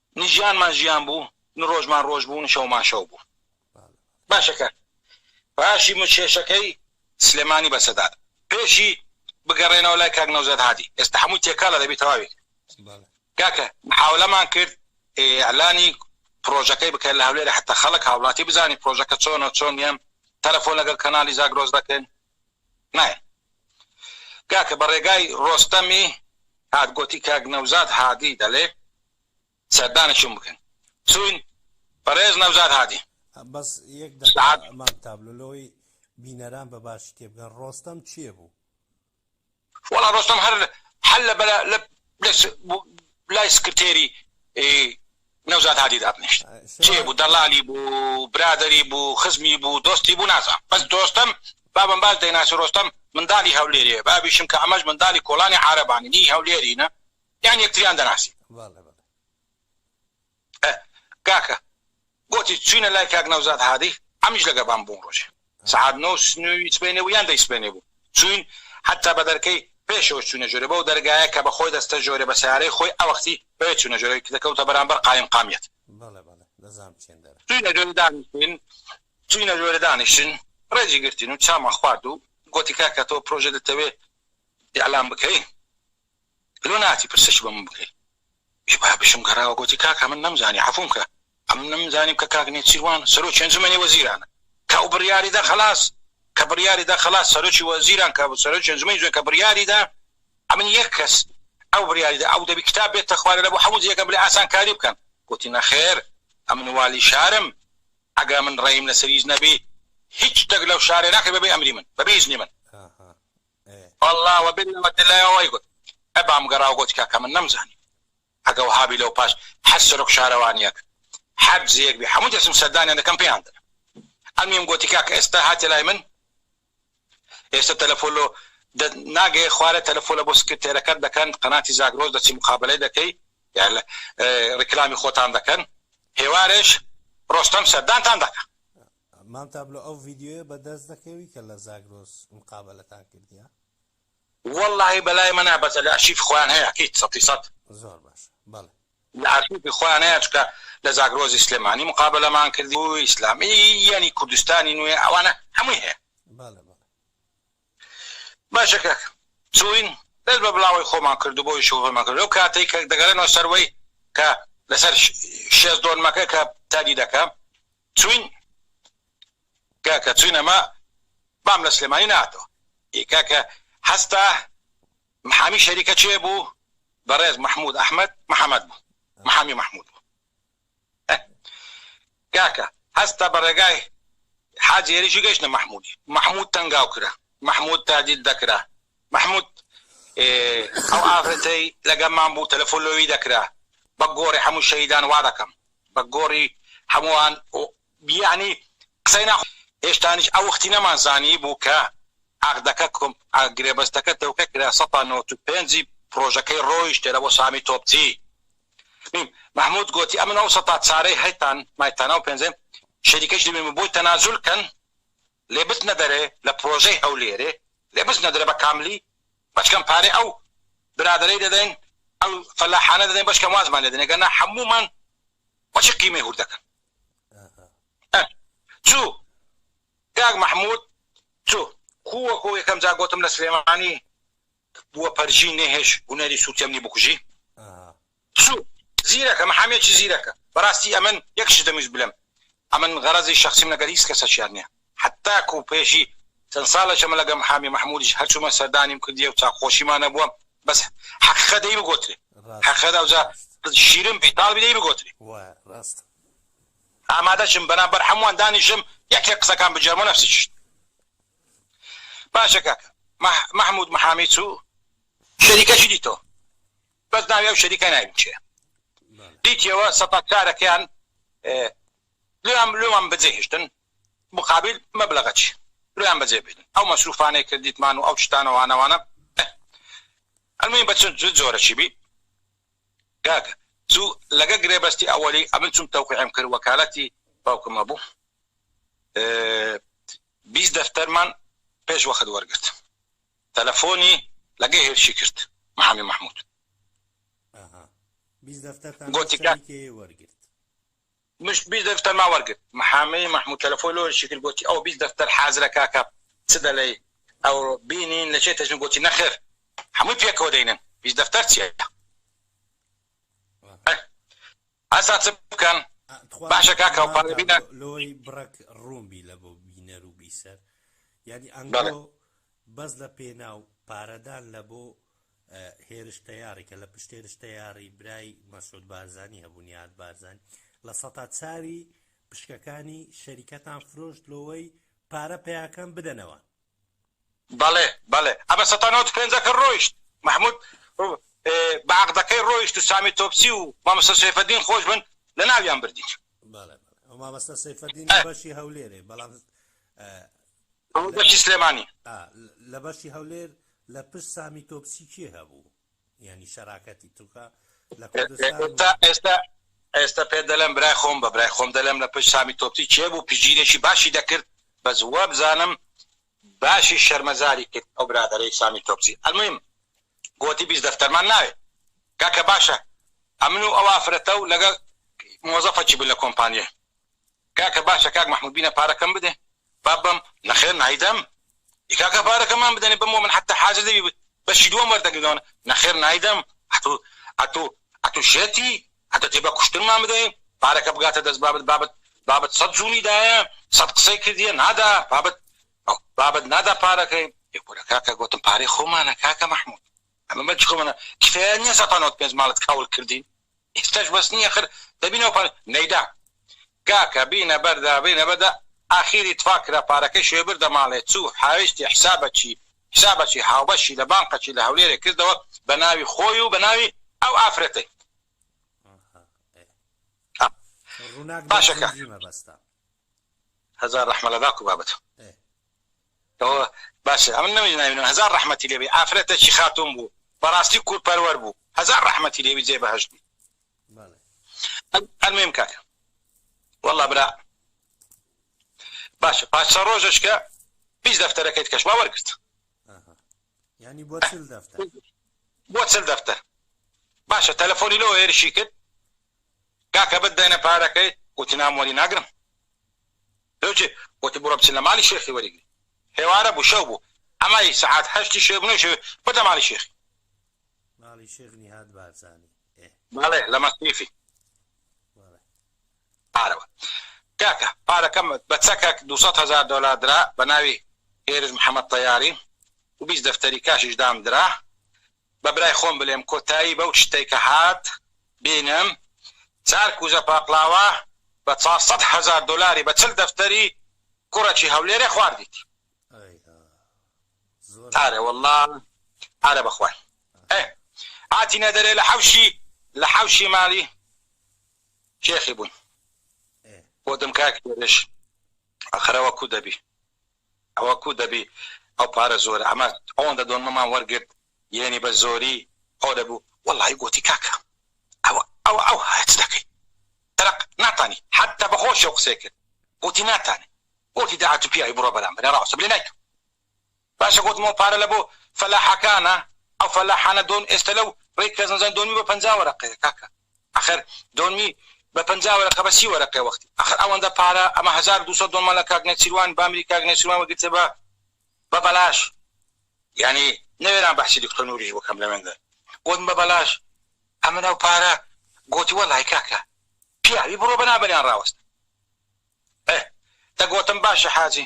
نە ژیانمان ژیان بوو، نە ڕۆژمان ڕۆژ بوو، نە شەومان شەو بوو. باشە کە باشی مچکێشەکەی سلێمانی بە سەدات پێشی بگەڕێنەوە لای کاک نەوزاد هادی ئێستا هەمووی تێکەڵە دەبی تەواوی کرد کاکە محاولەمان کرد ئیعلانی پرۆژەکەی بکەن لە هەولێرە حتا خەڵک هاوڵاتی بزانی پرۆژەکە چۆنە چۆن نیە تەلەفۆن لەگەڵ کەنالی زاگرۆس دەکەین نایە کاکە بە ڕێگای ڕۆستەمی هات گۆتی کاک نەوزاد هادی دەلێ سەردانێکیم بکەن چوین بەڕێز نەوزاد هادی بەس یەک دەقە مام تابلۆ لەوەی بینەران بە باشی تێبگەن ڕۆستەم کێ بوو؟ وەڵا ڕۆستەم هەر حەل لە بەرە لە لەس لای سکرتێری نەوزاد هادی دابنیشت چێ بوو دەڵالی بوو برادری بوو خزمی بوو دۆستی بوو نازان بەس دۆستم بابم باش دەیناسی ڕۆستەم منداڵی هەولێرێ بابیشم کە ئەمەش منداڵی کۆڵانی عارەبانی نی هەولێرینە یان یەکتریان دەناسی. ئە کاکە گۆتی چوینە لای کاک نەوزاد هادی عەمیش لەگەبان بوون ڕۆژێ سەعات نۆ سنووی سبەینێ بوو یان دەی سبەینێ بوو چوین حەتا بە دەرکەی پێشەوەش چوینە ژۆرێ بەو دەرگایە کە بە خۆی دەستە ژۆرێ بە سەیارەی خۆی ئەوەختی بەوێ چوینە ژۆرێ کە دەکەوتە بەرامبەر قایم قامیەت بەڵێ بەڵێ دەزام چێن دەرە. چوینە ژۆرێ دانیشتین چوینە ژۆرێ دانیشتین ڕێزی گرتین و چامان خوارد و گۆتی کاکە تۆ پرۆژە دەتەوێ ئیعلان بکەی؟ لۆ ناتی پرسێکی بۆ من بکەی؟ ئێ با بژم گەڕاوە گۆتی، کاکا من نەمزانی، عەفووم کە، ئەمن نەمزانیم کە کاک نێچیروان سەرۆکی ئەنجومەنی وەزیرانە کە ئەو بڕیاری دا خەلاس کە بڕیاری دا خەلاس سەرۆکی وەزیران کە سەرۆکی ئەنجومەنی جوێن کە بڕیاری دا ئەمن یەک کەس ئەو بڕیاری دا ئەو دەبی کتاب بێتە خوارێ لە بۆ حەموو جێگە بلێ ئاسانکاری بکەن گۆتی، نەخێر ئەمن والی شارم ئەگەر ئەمن ڕێیم لە سەر هیچ نەبی هیچ شتێک لەو شارێ ناکرێ بە بێ ئەمری من بە بێ ئیزنی من. ئەێ. وەڵا وەبێ لەوە دلەوە وای گوت ئە بام گەڕا و گوت کاکە من نەمزانی ئەگە وەها بی لەو پاش حەج سەرۆک شارەوانیەک حەج جێیەک بی حەموو دەچم سەردانیان دەکەم پێیان دەلم ئەمیم گوتی کاکە ئێستا هاتیە لای من ئێستا تەلەفۆن لۆ دە ناگەێ خوارێ تەلەفۆلە بۆ سکرتێرەکەت دەکەن قەناتی زاگرۆس دەچی مقابەلەی دەکەی یان لە ڕیکلامی خۆتان دەکەن هێوارێش ڕۆستەم سەردانتان دەکا مام تابلۆ ئەو ڤیدیۆیە بەدەست دەکەوی کە لە زاگرۆس مقابەلەتان کردیە؟ وەڵاهی بەلای مەنا بەسە لە ئەرشیفی خۆیان هەیە ئەکید سەتی سەت. زۆر باشە بەڵێ. لە ئەرشیفی خۆیان هەیە چونکە لە زاگرۆزی سلێمانی مقابەلەمان کردی و ئیسلامی یانی کوردستانی نوێ ئەوانە هەمووی هەیە. بەڵێ بەڵێ. باشە کاک چوین دەست بە بڵاوەی خۆمان کرد و بۆ ئیشی خۆمان کرد لەو کاتەی کە دەگەرێنەوە سەروەی کە لەسەر شێزدۆنمەکە کە تادی دەکەم چوین کاکە چوین ئەمە بام لە سلێمانی ناتەوە ئی کاکە هەستا محامی شەریکە چێ بوو بەڕێز محمود ئەحمد محەمەد بوو محامی محمود بوو کاکە هەستا بە ڕێگای حاجی هێریشی گەشتە محمودی محمود تەنگاو کرا محمود تادید دەکرا محمود ئەو ئافرەتەی لەگەمان بوو تەلەفۆن لۆوی دەکرا بە گۆڕی هەموو شەیدان وا دەکەم بە گۆڕی هەمووان و یەعنی قسەی نا هێشتانیش ئەو وەختی نەمان زانیبوو کە عەقدەکە کۆم گرێبەستەکە تەوقێ کرا سەد تا نەوەت و پێنج پڕۆژەکەی ڕۆیشتێ لە بۆ سامی تۆپچی میم مەحمود گۆتی ئەمن ئەو سەد تا چارەی هەیتان مایتانە و پێنجەم شەریکەش دەبین بۆی تەنازول کەن لێ بچنە دەرێ لە پرۆژەی هەولێرێ لێ بچنە درێ بە کاملی بەچکەم پارەی ئەو برادەرەی دەدەین ئەو فەلاحانە دەدەین بەچکەم وازمان لێ دەنێ گەنا حەموومان بەچی قیمەی هور دەکەن ئە چو کاک محمود چو کووەکۆ یەکەم جا گۆتم لە سلێمانی بوە پەرژین نێ هێش هونەری سوتیەم نی بکوژی سوت زیرەکە محامیەکی زیرەکە بەراستی ئەمن یەکشت دەمویست بلێم ئەمن غەرەزی شەخسیم لەگەر هیچ کەسەکیا نیە حەتاکو پێشی چەند سالەکە من لەگەر محامی محمودیش هەر چومە سەردانیم کردیە و چاک خۆشیمان هەبوە بەس حەقیقەت دەی بگۆترێ حەقیقەت ئەوجا شیرن بی تاڵبی دەی بگۆترێ ئامادەشم بەرامبەر هەموان دانیشم یەک یەک قسەکان بگێرمەوە نەفسی چشت. باشە کاکە مەحمود محامی چوو شەریکەشی دیتەوە بەس ناوی ئەو شەریکە ناوی چێ دیتیەوە سەتاکارەکەیان لێیان لێوان بەجێ هێشتن مقابل مەبلغە چی لێیان بەجێ بێن ئەو مەسروفانەی کردیتمان و ئەو شتانەوانەوانە ئەلمین بەچن جۆرە چی بی کاکە چوو لەگە گرێبەستی ئەوەی ئەمن چوم تەوقعم کرد وەکالەتی باوکمە بوو بیست دەفتەرمان پێش وەخت وەرگرت تەلەفۆنی لەگەی هێرشی کرد محامی محمود. ئەها بیست دەفتەرتان گۆتی کە سەری کێ وەرگرت؟ مش بیست دەفتەرمان وەرگرت محامی محمود تەلەفۆی لۆ هێرشی کرد گۆتی ئەو بیست دەفتەر حازرە کاکە چ دەلێی ئەو بینین لە چێ تەجن گۆتی نەخێر هەمووی پێکەوە دەینن بیست دەفتەر چیە؟ ئەه. ئەسا چ بکەن باشە کاکە و پارە بینە. لۆی بڕەک ڕوون بی لە بۆ بینەر و بیسەر یانی ئەنگۆ بەس لە پێناو پارەدان لە بۆ هێرش تەیاری کە لە پشت هێرش تەیاری برای مەسود بارزانانی هەبوون یاد بارزانانی لە سەتا چاوی پشکەکانی شەریکەتان فرۆشت لۆوەی پارە پیاکەم بدەنەوە بەڵێ بەڵێ ئەمە سەتا نەوەد و پێنجەکە ڕۆیشت مەحمود بە عەقدەکەی ڕۆیشت و سامی تۆپچی و مامۆستا سەیفەدین خۆش بن لە ناویان بردین. بەڵێ بەڵێ ئەو مامۆستا سەیفەدین لە بەشی هەولێرێ بەڵام بەشی سلێمانی لە بەشی هەولێر لە پشت سامی تۆپچی کێ هەبوو؟ یانی شەراکەتی تورکە لە کوردستان و ئێستا ئێستا پێ دەلێم برای خۆم بە برای خۆم دەلێم لە پشت سامی تۆپچی کێ بوو پشگیرێکی باشی دەکرد بەس وابزانم باشی شەرمەزاری کرد ئەو برادەرەی سامی تۆپچی المویم گۆتی بیست دەفتەرمان ناوێ کاکە باشە ئەمن و ئەو ئافرەتە و لەگەڵ مۆزەفە چی بوو لە کۆمپانیای کاکە باشە کاک محمود بینە پارەکەم بدێ با بەم. نەخێر نایدەم ئی کاکە پارەکەمان بدەنێ بەمەوە من حەتە حازر دەبی بەشی دووەم وەردەگرنەوە نەخێر نایدەم ئەتوو ئەتوو ئەتوو شێتی ئەتە تێ بە کوشتنمان بدەی پارەکە بگاتە دەست بابت بابت بابت سەد جوونی دایە سەد قسەی کردیە نادا بابت بابت نادا پارەکەی. ئێ کورە کاکە گۆتم پارەی خۆمانە کاکە محمود. ئەمە بەچ کۆمەنە کفایەت نیە سە پانەوەد پێنج ماڵت کاول کردین ئیستەش بەس نیە خر دەبی نەو پانە نەیدا کاکە بینە بەردا بینە بەدا ئاخیری تفا کرا پارەکەی شوێ بردە ماڵێ چو حاویشتی حسابە چی حسابە چی هاوبەشی لە بانقە چی لە هەولێرێ کردەوە بە ناوی خۆی و بە ناوی ئەو ئافرەتەی باشەکە هەزار ڕەحمە لە داکو بابت. باشە ئەمن نەوی ناوینم هەزار ڕەحمەتی لێبی ئافرەتەکی خاتون بوو بەڕاستی کور پەروەر بوو هەزار ڕەحمەتی لێبی جێ بەهەشت بی ئەلمیم کاک والله برا باشە پاش چە ڕۆژش کە پیش دەفتەرەکەیت کەش وا وەرگرت ینی بۆ چل دەفتەر بۆ چل دەفتەر باشە تەلەفۆنی لەوە هێرشی کرد کاکە بەت دەنە پارەکەی وتی نامۆری ناگرم وتی بڕۆ بچن لە ماڵی شێخی وەریگرن. ئێوارە بوو شەو بوو ئەمای سەعات هەشتی شەوێ بوو نەیشەوێ بردە ماڵی شێخی. ماڵی شێخ نیهاد بارزانی ئێ. بەڵێ لە مەسیفی. بەڵێ. پارەوە. کاکە پارەکەم بە چەکەک دوو سەد هەزار دۆلار درا بە ناوی هێرش محەمەد تەیاری و بیست دەفتەری کاشیش دام درا بە برای خۆم بلێم کۆتایی بەو چتەی کە هات بینم چار کوزە پاقلاوە بە چار سەد هەزار دۆلاری بە چل دەفتەری کوڕەکی هەولێرێ خواردیت ئارە واللە ئارە بەخوای ئێ هاتینە دەرێ لە حەوشی لە حەوشی مالی شێخی بووین بۆ دم کاک هێرش ئەخەرەوە کو دەبی ئەوە کو دەبی ئەو پارە زۆرە ئەمە ئەوەندە دۆنمەمان وەرگرت یەنی بە زۆری ئەو دەبوو وەڵای گۆتی کاکە ئەوە ئەوە ئەو هایە چ دەکەی دەرەق ناتانی حەتە بە خۆشی و قسەی کرد گۆتی ناتانی گۆتی دە ئەتو پیاوی بڕۆ بەرامبەرە ڕاستە بلێ نایکەم باشە گۆتم ئەو پارە لە بۆ فەلاحەکانە ئەو فەلاحانە دۆن ئێستە لەو ڕێی کەزنزان دۆنمی بە پەنجا وەرەقەیە کاکە ئەخەر دۆنمی بە پەنجا وەرەقە بە سی وەرەقە وەختی ئەخەر ئەوەندە پارە ئەمە هەزار و دوو سەد دۆنمە لە کاک نێچیروان بامری کاک نێچیروان وەگرتێ بە بە بەلاش یانی نەوێران بەحسی دکتۆر نوریش بکەم لە وێندەر گۆتم بە بەلاش ئەمن ئەو پارە گۆتی وەڵای کاکە پیاوی بڕۆ بە نابەریان ڕاوەست ئە دەگۆتم باشە حاجی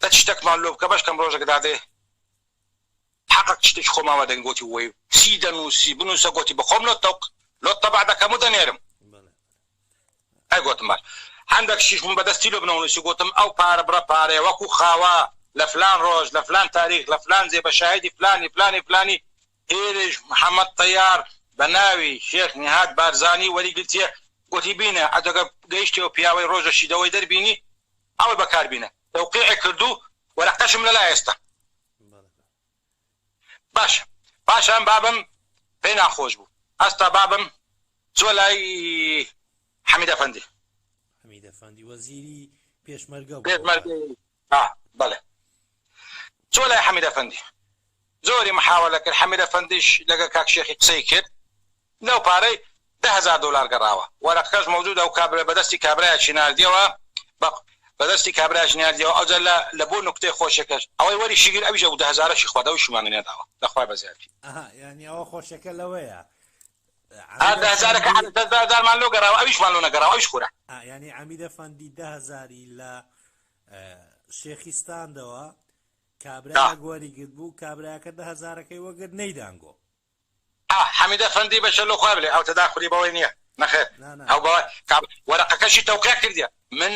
دە چ شتەکمان لۆ بکە بەشکەم ڕۆژەکە دادێ حەقەک تشتێکی خۆمان وەدەگرین گۆتی وەی چی دەنووسی بنووسە گۆتی بەخۆم لۆت تەوق لۆت تەبع دەکەم و دەنێرم ئەی گۆتم باش هەندەک شیش بوون بەدەستی لۆ بنەوە نووسی گۆتم ئەو پارە بڕە پارەیە وەکوو خاوە لە فلان ڕۆژ لە فلان تاریخ لە فلان جێ بە شاهیدی فلانی فلانی فلانی ئێرەیش محەمەد تەیار بە ناوی شێخ نیهاد بارزانی وەری گرتیە گۆتی بینە ئەجەگە گەیشتیەوە پیاوەی ڕۆژە شیدەوەی دەربینی ئەوەی بەکار بینە تەوقیعی کردوو وەرەقەشم لەلایە ئێستا. باشە پاشان بابم پێی ناخۆش بوو هەستا بابم چوە لای حەمید ئەفەندی حەمید ئەفەندی وەزیری پێشمەرگە پێشمەرگە بەڵێ چوە لای حەمید ئەفەندی زۆری محاوەلە کرد حەمید ئەفەندیش لەگەڵ کاک شێخی قسەی کرد لەو پارەی دە هەزار دۆلار گەڕاوە. وەرەقەکەش مەودود ئەو کابرای بە دەستی کابرایەکی ناردیەوە بە بە دەستی کابرایەکی ناردیەوە ئەوجا لە لە بۆ نوکتەی خۆشەکەش ئەوەی وەریشی گرت ئەویش ئەو دە هەزارەشی خۆرد ئەویشی مانی نەداوە لە خوای بەزیاتی. ئەها یانی ئەوە خۆشەکە لەوەیە ئا دە عەمیدە هەزارەکە فەندی دە دە هەزارمان لۆ گەڕاوە ئەویشمان لۆ نەگەڕاوە ئەویش خورا. ئا یانی عەمیدە فەندی دە هەزاری لە ئە شێخی ستاندەوە دا. کابرایەک وەری گرتبوو کابرایەکە دە هەزارەکەی وەگرت نەیدانگۆ. ئاه حەمید ئەفەندی بەشەر لۆ خوای بلێ ئەو تەداخولی بەوەی نیە نەخێر ئەو بەوە کاب وەرەقەکەشی تەوقیع کردیە من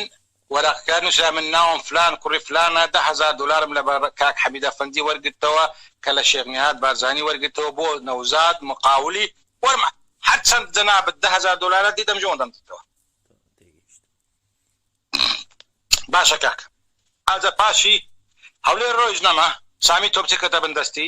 وەرەقەکە نوسرا من ناوم فلان کوڕی فلانە دە هەزار دۆلارم لە بە کاک حەمید ئەفەندی وەرگرتەوە کە لە شێخ نیهاد بارزانی وەرگرتەوە بۆ نەوزاد مقاولی وەرمە هەر چەند جەنابت دە هەزار دۆلارە دیدەم جۆن دەم دیتەوە باشە کاک ئازە پاشی هەولێر ڕۆیژ نەما سامی تۆپچی کەتە بن دەستی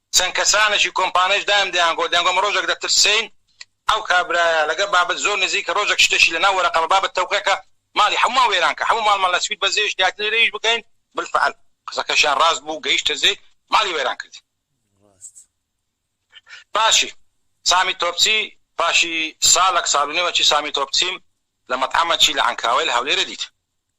چەند کەسانێکی کۆمپانیش دایم دەیانگۆت دەیانگۆم ڕۆژێک دەترسێین ئەو کابرایە لەگەڵ بابت زۆر نزیکە ڕۆژێک شتێکی لەناو وەرەقە بە بابت تەوقێکە ماڵی هەموومان وێران کە هەموو ماڵمان لە سوید بەزێ شتیاتی لێرە ئیش بکەین بالفعل قسەکەشیان ڕاست بوو گەیشتە زێی ماڵی وێران کردین پاشی سامی تۆپچی پاشی ساڵەک ساڵ و نێوەکی سامی تۆپچیم لە مەتعەمەکی لە عەنکاوەی لە هەولێرە دیت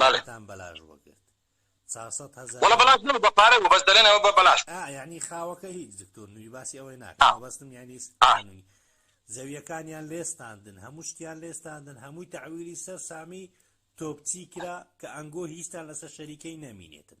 بەڵێ وەڵا بەلاش نەبوو بە پارە بوو بەس دەلێن ئەوە بە بەلاش بوو ئا یەعنی خاوەکە هیچ دکتۆر نوی باسی ئەوەی ناکەم ئا مەبەستم یەعنی ئا خانووی زەویەکانیان لێستاندن هەموو شتیان لێستاندن هەمووی تەعویلی سەر سامی تۆپچی کرا کە ئەنگۆ هیچتان لەسەر شەریکەی نەمینێتن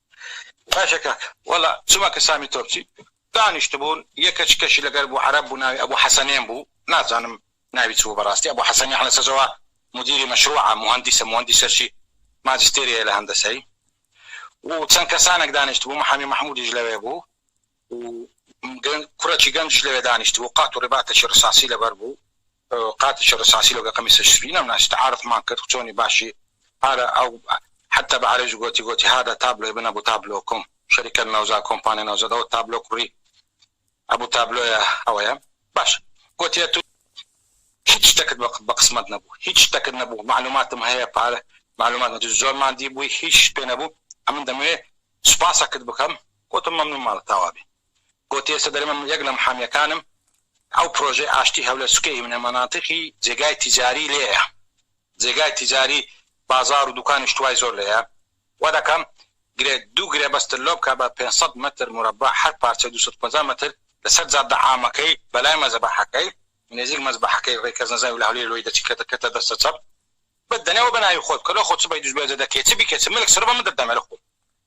باشە کاکە وەلا چومە کە سامی تۆپچی دانیشتبوون یە کە چکەشی لەگەر بوو عەرەب بوو ناوی ئەبوو حەسەنێن بوو نازانم ناوی چبوو بەراستی ئەبوو حەسەنی حە نەسەجەوە مدیری مەشروعە موهەندیسە موهەندیسە چی ماجستێری هەیە لە هەندەسەی و چەن کەسانەک دانیشتبوو محامی مەحمودیش لەوێ بوو و گرنگ کوڕێکی گەنجیش لەوێ دانیشتبوو قات و ڕباتەکی ڕساسی لەبەر بوو قاتێکی ڕساسی لەوگە قەمیسە شری نەمناسی تعارفمان کرد چۆنی باشی هارە ئەو حتى بە عەرەبی گۆتی گۆتی هادا تابلۆی بنە بوو تابلۆکم شەریکەت نەوزا کۆمپانیا نەوزا دەوە تابلۆ کوڕی ئەبوو تابلۆیە ئەوەیە باش گۆتیە تو هیچ شتەکت بە قسمەت نەبوو هیچ شتەکت نەبوو معلوماتم هەیە پارە معلومات نەدی زۆر ماندی بووی هیچ پێ نەبوو ئەمن دەمەوێ سوپاسەکت بکەم گۆتم مەمنون مالت تاوابی گۆتی ئێستا دەرێ من یەک لەم حامیەکانم ئەو پرۆژەی ئاشتی هەولێر سوکێ هیمنە مەناتقی جێگای تیجاری لێیە جێگای تیجاری بازار و دوکان شتوای زۆر لێیە وا دەکەم گرێ دوو گرێبەستت لۆ بکە بە پێنج سەد مەتر مورەبع هەر پارچەی دوو سەد و پەنجا مەتر لەسەر جادە عامەکەی بەلای مەزەبەحەکەی نێزیک مەزبەحەکەی ڕێ کەس نەزانی و لە هەولێر لۆی دەچی کەتە کەتە دەستە چەپ بت دەنێ وە بەناوی خۆت بکە لۆ خۆت چ بەیدوش بێجە دەکەی چ بیکەی چ ملک سربە من دەت دەمێ لە خۆم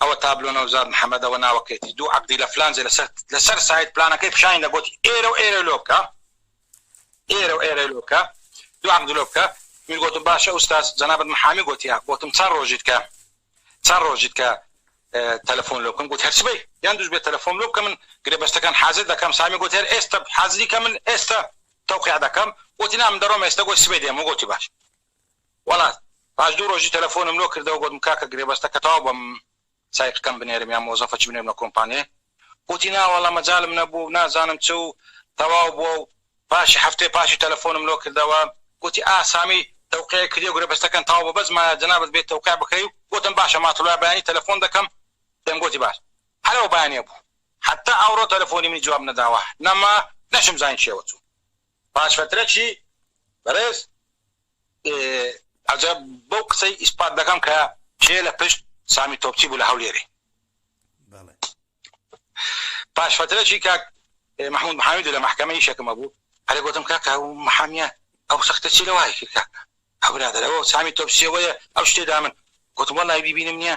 ئەوە تابلۆ نەوزاد محمد ئەوە ناوەکەیەتی دوو عەقدی لە فلان جێ لەسەر لەسەر سایت پلانەکەی پیشانی دا گۆتی ئێرە و ئێرە لۆ بکە ئێرە و ئێرە لۆ بکە دوو عەقدی لۆ بکە من گۆتم باشە ئوستاز جەنابت محامی گۆتیە گۆتم چەند ڕۆژیت کە چەند ڕۆژیت کە تەلەفۆن لۆ بکەم گوت هەرچی بەی یان دوش بێ تەلەفۆن لۆ بکە من گرێبەستەکان حازر دەکەم سامی گۆت هەر ئێستا حازری کە من ئێستا تەوقیع دەکەم گۆتی نا من دەڕۆم ئێستا گۆی سبەی دێم گۆتی باش وەڵات پاش دوو ڕۆژی تەلەفۆنم لۆ کردەوە گۆتم کاکە گرێبەستە کە تەواو بەم سایقەکەم بنێرم یان مۆزەفەچ بنێرم لە کۆمپانێ وتی نا وەڵا مەجالم نەبوو و نازانم چ و تەواو بووە و پاشی حەفتەی پاشی تەلەفۆنم لۆ کردەوە گۆتی ئا سامی تەوقیعی کردیە گرێبەستەکەن تەواو بووە بەس مایە جەنابت بێی تەوقیع بکەی و گۆتم باشە ماتەڵوای بەیانی تەلەفۆن دەکەم پێم گۆتی باش هەر ئەو بەیانیە بوو حەتا ئەوڕۆ تەلەفۆنی منی جواب نەداوە نەما نەشم زانی کێوە چوو. پاش فترەکی بەڕێز عەجەب بەو قسەی ئیسپات دەکەم کە کێ لە پشت سامی تۆپچی بوو لە هەولێرێ پاش فترەکی کاک محمود محامیدو لە مەحکەمە ئیشەکم هەبوو هەرێ گۆتم کاکە ئەو محامیە ئەو سەختە چی لە وای کرد کاکە ئەو برادەرەوە سامی تۆپچیەوەیە ئەو شتێ دا من گۆتم وەڵای بیبینم نیە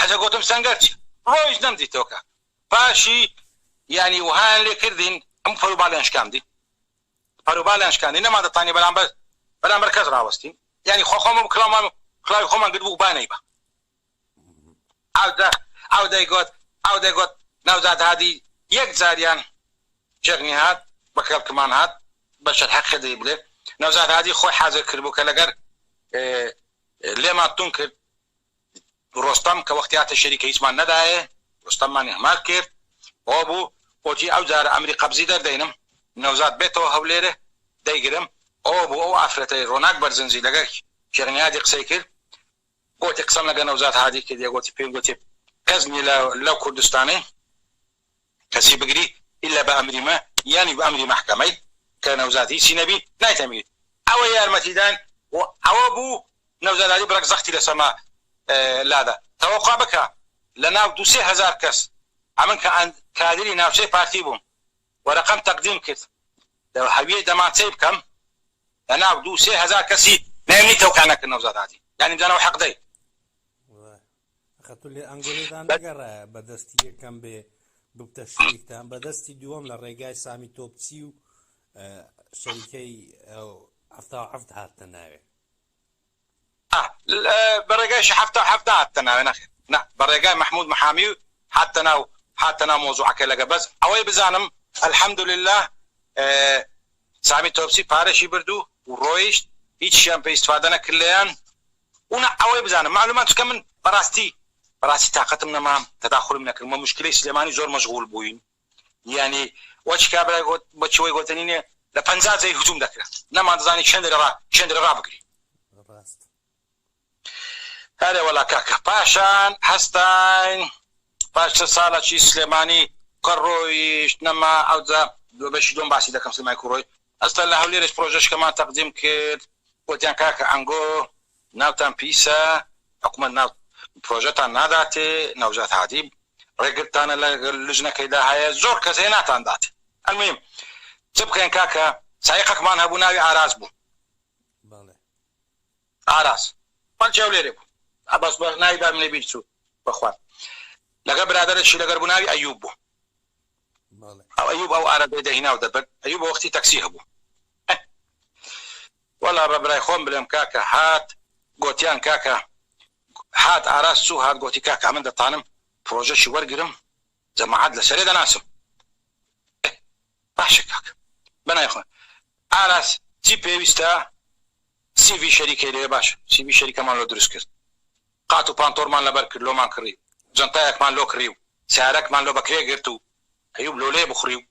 حەجە گۆتم سەنگەر چی ڕۆیشت نەم دیتەوە کاک پاشی یانی وهایان لێ کردین ئەم پەرو باڵیان شکاندی پەرو باڵیان شکاندی نەمان دەتانی بەرامبەر بەرامبەر کەس ڕاوەستین یانی خۆ خۆمان کرامان کلاوی خۆمان گرت بوو بانەی بە ئاو دە ئاو دەیگۆت ئاو دەیگۆت ناوزاد هادی یەک جاریان جەغنی هات بە کەڵکمان هات بەشەر حەقی دەی بلێ ناوزاد هادی خۆی حازر کرد بوو کە لەگەر لێمان تون کرد ڕۆستەم کە وەختی هاتە شەریکە هیچمان نەدایێ ڕۆستەممان ئیهمال کرد ئەوە بوو ئۆجی ئەو جارە ئەمری قەبزی دەردەینم نەوزاد بێتەوە هەولێرێ دەیگرم ئەوە بوو ئەو ئافرەتەی ڕۆناک بەرزنجی لەگەر شێخ نیادی قسەی کرد گۆتی قسەم لەگەر نەوزاد هادی کردیە گۆتی پێم گۆتی کەس نیە لە لەو کوردستانەی کەچی بگری ئیلا بە ئەمری مە یانی بە ئەمری مەحکەمەی کە نەوزاد هیچی نەبی نایتەمریت ئەوە یارمەتی دان و ئەوە بوو نەوزاد علی بڕەک زەختی لە سەما لادا تەوەقوع بکە لە ناو دوو سێ هەزار کەس ئەمن کە ئەند کادری ناوچەی پارتی بووم وەرەقەم تەقدیم کرد لە هەویەی دەمانچەی بکەم لە ناو دوو سێ هەزار کەسی نایمنی تەوقیع نەکرد نەوزاد علی یانی بزانە وە حەقدەی. خەتولێ ئەنگۆلێتان نەگەڕایە بە دەستی یەکەم بێ ببتە شتیکتان بە دەستی دووەم لە ڕێگای سامی تۆپچی و شەریکەی هەفتا هەفت هاتە ناوێ بە ڕێگایش هەفتا هەفتا هاتە ناوێ نەخێت نە بە ڕێگای مححمود محامی و هاتە ناو هاتە ناو مۆزوعەکە لەگە بەس ئەوەی بزانم الحمد لله سامی تۆپسی پارەشی بردو و ڕۆیشت هیچیان پێ ئیسفادە نەکرد لێیان ونا ئەوەی بزانم مەعلومە چونکە من بەڕاستی بەڕاستی تاقەتم نەما تەداخولم نەکرد مە موشکیلەی سلێمانی زۆر مەشغول بووین یانی وە چ کابرای گۆت بە چوەی گۆتەنینێ لە پەنجا جێی هجوم دەکرا نەمان دەزانی چێندە لە ڕا چێندە لە ڕا بگری ڕاست. ئەرێ وەلا کاکە پاشان هەستاین پاش چل سالە چی سلێمانی کە ڕۆیشت نەما ئەوجا بەشی دوەم باسی دەکەم سلێمانی کو ڕۆی ئەستا لە هەولێرش پرۆژەشکەمان تەقدیم کرد وتیان کاکە ئەنگۆ ناوتان پیسە حکومەت ناو پرۆژەتان ناداتێ نەوزاد هادی ڕێگرتانە لە لجنەکەی دا هەیە زۆر کەس هەیە ناتان داتێ المویم چ بکەین کاکە سایقەکمان هەبوو ناوی ئاراس بوو بەڵێ ئاراس خەڵکی هەولێرێ بوو عەباس بە ناوی بابم لێ بیر چوو بەخوان لەگەڵ برادەرێکی لەگەر بوو ناوی ئەیوب بوو. ئەیوب ئەو عەرەبەی دەهیناو دەبرد ئەیوب وەختی تەکسی هەبوو ئەه وەلا ڕەبرای خۆم بلێم کاکە هات گۆتیان کاکە هات ئاراس چوو هات گۆتی کاکە ئەمن دەتانم پرۆژەکی وەرگرم جەماعەت لە سەرێ دەناسم ئەه باشە کاکە بەنای خۆن ئاراس چی پێویستە سی ڤی شەریکەی لەوێ باشە سی ڤی شەریکەمان لۆ دروست کرد قات و پانتۆرمان لەبەر کرد لۆمان کڕی جەنتایەکمان لۆ کڕی و سەیارەکمان لۆ بەکرێ گرت و ئەیوب لۆ لێ بخڕی و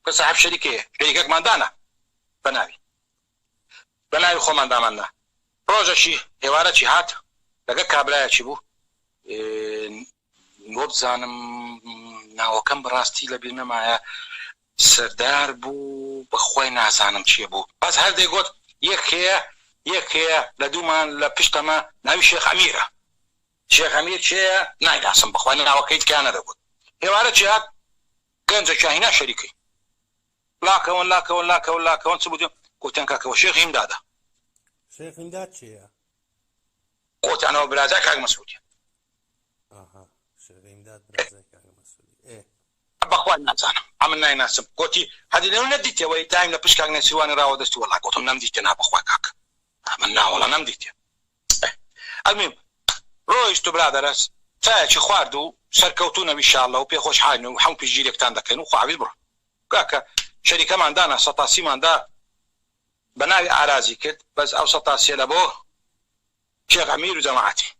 کە ساحێب شەریکەیە شەریکەکمان دانا بەناوی بەناوی خۆمان دامان نا ڕۆژەکی ئێوارەکی هات لەگەر کابرایەکی بوو ن. وابزانم ناوەکەم بەڕاستی لەبیر نەمایە سەردار بوو بەخوای نازانم چیە بوو بەس هەر دەیگۆت یەک هەیە یەک هەیە لە دوومان لە پشتەمە ناوی شێخ ئەمیرە شێخ ئەمیر کێیە نایناسم بەخوای ناوەکەی تکایە نەدەگۆت ئێوارە جیات گەنجە کاهینا شەریکەی لاکەون لاکەون لاکەون لاکەون چ بوو گوتیان کاکەوە شێخ هیمدادە شێخ هیمداد چیە خۆتانەوە برازای کاک مەسعودی بەخوا نازانم ئەمن نایناسم گوتی هەدی لەو نەدیتەوەی دایم لە پشکاک نەسیوانی راوە دەست وەڵا گوتم نەم دیتە نا بەخوا کاک ئەمن ناوەڵا نەم دیتێ ئەلمیم ڕۆیشت و برادەرەس چایەکی خوارد و سەرکەوتو نەوی شاڵە و پێخۆش حاین و حەم پیشگیرێکتان دەکەن و خواویز بڕۆ کاکە شەریکەمان دانا سەتاسیماندا بەناوی ئاراجی کرد بەس ئەو سەتا سێ لە بۆ شێخ ئەمیر و جەماعەتی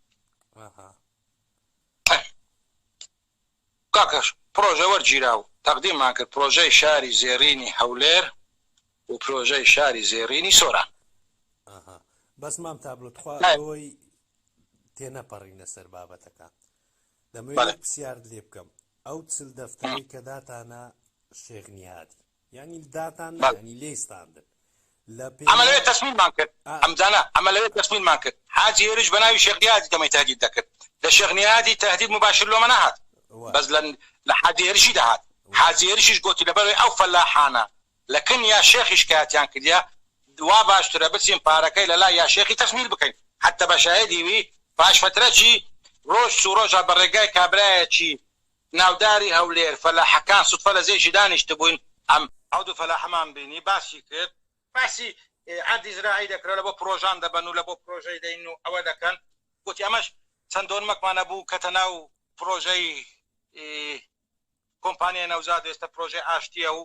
کاکەش پرۆژە وەرگیرا و تەقدیممان کرد پرۆژەی شاری زێڕینی هەولێر و پرۆژەی شاری زێڕینی سۆران بەس مام تابلۆ تخوا ئەوەی تێنەپەڕینە سەر بابەتەکان دەمەوێت پرسیارت لێ بکەم ئەو چل دەفتەرەی کە داتانە شێغنیادی ئەمە لەوێ تەسمیلمان کرد ئەمجانە ئەمە لەوێ تەسمیلمان کرد حاجی هێرش بە ناوی شێخ نیازی دەمەی تەهدید دەکرد لە شێخ نیازی تەهدید مباشر لۆمە نەهات بەس لە لە حاجی هێرشی دەهات حاجی هێرشیش گۆتی لەبەروەی ئەو فەلاحانە لە کن یا شێخی شکایەتیان کردیە وا باشترە بچین پارەکەی لە لای یا شێخی تەسمیل بکەین حەتە بە شاهێدی وی پاش فەترەکی رۆژ چوو رۆژا بە رێگای کابرایەکی ناوداری هەولێر، فەلاحەکان سوتفە لە زێژی دانیشتبووین، ئەم. ئەو دوو فەلاحەمان بینی، باسی کرد. باسی ئەردی زراعی دەکرا، لە بۆ پرۆژان دەبەن و لە بۆ پرۆژەی دەین و ئەوە دەکەن، گوتی ئەمەش چەند دۆنمەکمان هەبوو کەتە ناو پرۆژەی کۆمپانیای نەوزاد و ئێستا پرۆژەی ئاشتییە و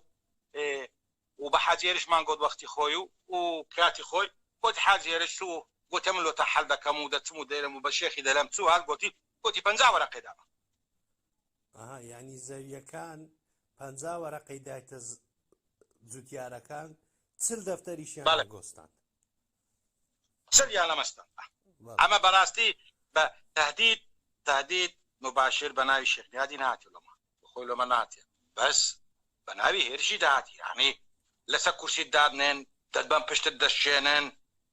و بە حاجی هێرشمان گوت وەختی خۆی و و کاتی خۆی، گوتی حاجی هێرش چوو و گوتی من لۆتان حەل دەکەم و دەچم و دێرم و بە شێخی دەلێم چوو هات گوتی گۆتی، پەنجا وەرەقەی دابە. ئەها، یانی زەوییەکان پەنجا وەرەقەی دایتە جووتیارەکان، چل دەفتەریشیان لەگۆستاند. چلیان لە مەستاند. ئەمە بە ڕاستی بە تەهدید، تەهدید، موباشیر بە ناوی شێخ نیادی نەهاتی لۆمە، خۆی لۆمە ناتێ، بەس بە ناوی هێرشی دەهاتی، یانی لەسەر کورسیت دادنێن، دەتبەن پشتت دەشکێنن،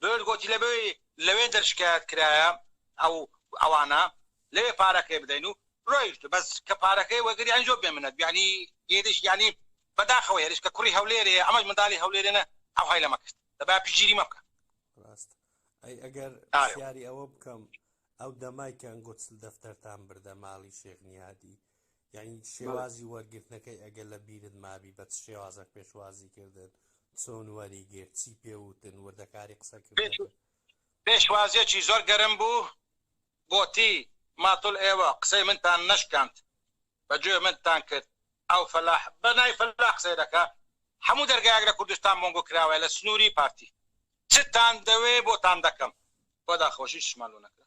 بوێر گۆتی، لەبەوەی لەوێندەر شکایەت کرایە ئەو ئەوانە لەوێ پارەکەی بدەین و رۆیشت بەس کە پارەکەی وەگری ئەنجۆ بێ منەت یانی هێرش یانی بەداخەوە هێرش کە کوڕی هەولێرێ ئەمەش مندالی هەولێرێنە ئەوهای لەمە کرد دەبا پشگیری مە بکە. راست ئەی ئەگەر پرسیاری ئەوە بکەم ئەو دەمای کە ئەنگۆ چل دەفتەرتان بردە ماڵی شێخ نیادی یانی شێوازی وەرگرتنەکەی ئەگەر لە بیرت مابی بە چ شێوازە پێشوازی کردن چۆن وەری گرت چی پێوتن وردەکاری قسەکردن پێشوازیەکی زۆر گەرم بوو گۆتی ماتڵ ئێوە قسەی منتان نەشکاند بە گوێ منتان کرد ئەو فەلاح بە نای فەلاح قسەی دەکە هەموو دەرگایەک لە کوردستان مۆنگۆ کراوە لە سنووری پارتی چتان دەوێ بۆتان دەکەم بۆ داخۆشی شمالۆ نەکرا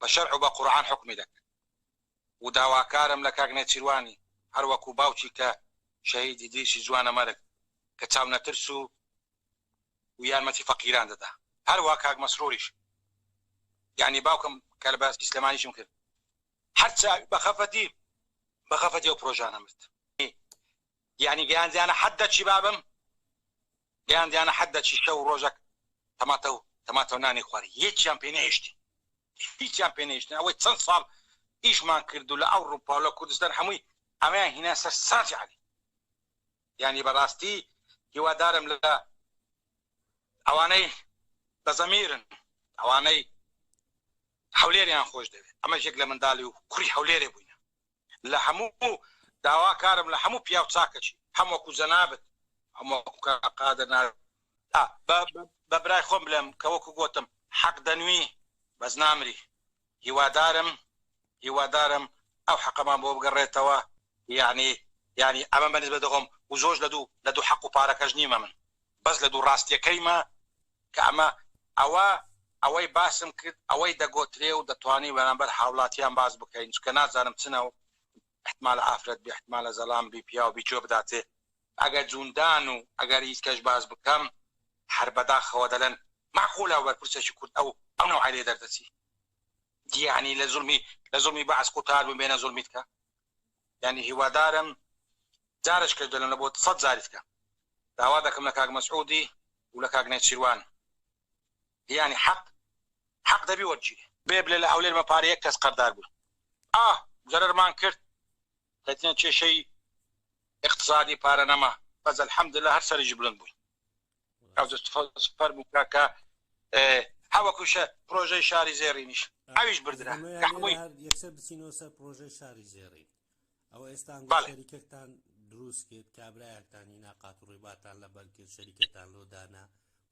بە شەرع و بە قورعان حوکمی دەکەن و داواکارم لە کاک نێچیروانی هەر وەکو باوکی کە شەهید ئیدریسی جوانەمەرگ کە چاونەترس و و یارمەتی فەقیران دەدا هەر وا کاک مەسروریش یانی باوکم کە لە باسی سلێمانیشم کرد هەر چاوی بە خەفەتی بە خەفەتی ئەو پرۆژانە مرد یانی گەیاندیانە حەد دەچی بابم گەیاندیانە حەد دەچی شەو و ڕۆژەک تەماتە و تەماتە و نانی خواری یەکیان پێ نەهێشتین هیچیان پێ نەهێشتین ئەوەی چەند ساڵ ئیشمان کرد و لە ئەوروپا و لە کوردستان هەمووی ئەمەیان هینا سەر ساجی عەلی یانی بەڕاستی هیوادارم لە ئەوانەی بە زەمیرن ئەوانەی هەولێریان خۆش دەوێت ئەمەش یەک لە منداڵی و کوڕی هەولێرێ بووینە لە هەموو داوا کارم لە هەموو پیاو چاکەچی هەم وەکو جەنابت هەم وەکو کاک قادر ناردن ئا بە بە برای خۆم بلێم کە وەکو گۆتم حەق دەنوی بەس نامری هیوادارم هیوادارم ئەو حەقەمان بۆ بگەڕێتەوە یانی یانی ئەمە بە نسبەت خۆم و زۆرش لە دوو لە دوو حەق و پارەکەش نیمە من. بەس لە دوو ڕاستیەکەیمە کە ئەمە ئەوە ئەوەی باسم کرد ئەوەی دەگۆترێ و دەتوانین بەرامبەر هاوڵاتیان باس بکەین چونکە نازانم چ ناو احتمالە ئافرەت بێ احتمالە زەلام بی پیاو بی گوێ بداتێ ئەگەر جوندان و ئەگەر هیچ کەش باس بکەم هەر بەداخەوە دەلەن مەعقولە وەرپرسێکی کورد ئەو ئەو نەوعەی لێ دەردەچی یەعنی لە زوڵمی لە زوڵمی بەعس قوتار بم بێنە زوڵمی تکا یعنی هیوادارم جارش کەش دەلم لە بۆ سەد جاریت کە داوا دەکەم لە کاک مەسعودی و لە کاک نێچیروان یعنی حەق حەق دەبی وەرگیری بێ بلێ لە هەولێر مە پارە یەک کەس قەردار بوو ئا زەرەرمان کرد لەتنە کێشەی اقتصادی پارە نەما بەس الحمد لله هەر سەرنج بلند بووی فەرمو کاکە هەوەکوشە پرۆژەی شاری زێڕینیش ئەویش بردرا یەکسەر بچینەوە سەر پرۆژەی شاری زێڕین ئەوە ئێستا شەریکەکتان دروست کرد کابراەکتانی ناقات و ڕێباتان لە بەرکرد شەریکەتان لۆدانا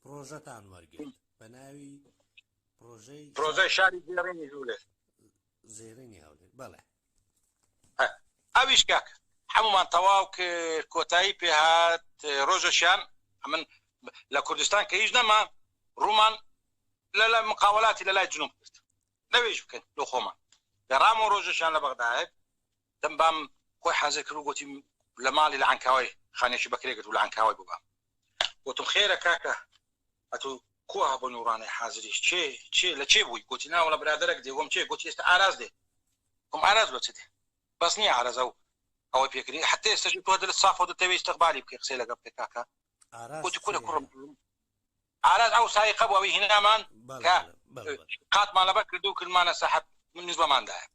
پرۆژەتان وەرگرت بە ناوی پرۆژەی پرۆژەی شاری زێڕینی ژوولێت زێڕینی هەولێر بەڵێ. ئەویش کاک حەمومان تەواو کرد کۆتایی پێ هات ڕۆژەشیان ئەمن لە کوردستان کە هیچ نەما ڕوومان لە لای مقاولاتی لە لای جنوب کرد نەوێژ بکەن لۆ خۆمان گەڕامەوە ڕۆژەشیان لە بەغدایە دەم بام خۆی حازر کرد و گۆتی لە ماڵی لە عەنکاوای خانێکی بەکرێ گرت و لە عەنکاوای بۆ بام گۆتم خێرە کاکە ئەتو کو هەبوو نوڕانای حازریش چێ چێ لە چێ بووی گۆتی ناوەڵە برادەرەک دێ وەم چێ گۆتی ئێستا ئاراز دێ وم ئاراز بە چ دێ بەس نییە ئارەزە و ئەوەی پێکردی حتە ئێستەش تۆ دلت سافە و دەتەوێ ئیستقبالی بکەی قسەی لەگەڵ بکەی کاکە ئاراز گۆتی کورە چێ کوڕم ئاراس ئەو سایقە بوو ئەوی هینامان کە قاتمان لەبەر کرد و کردمانە سەحەب من نزبەماندایە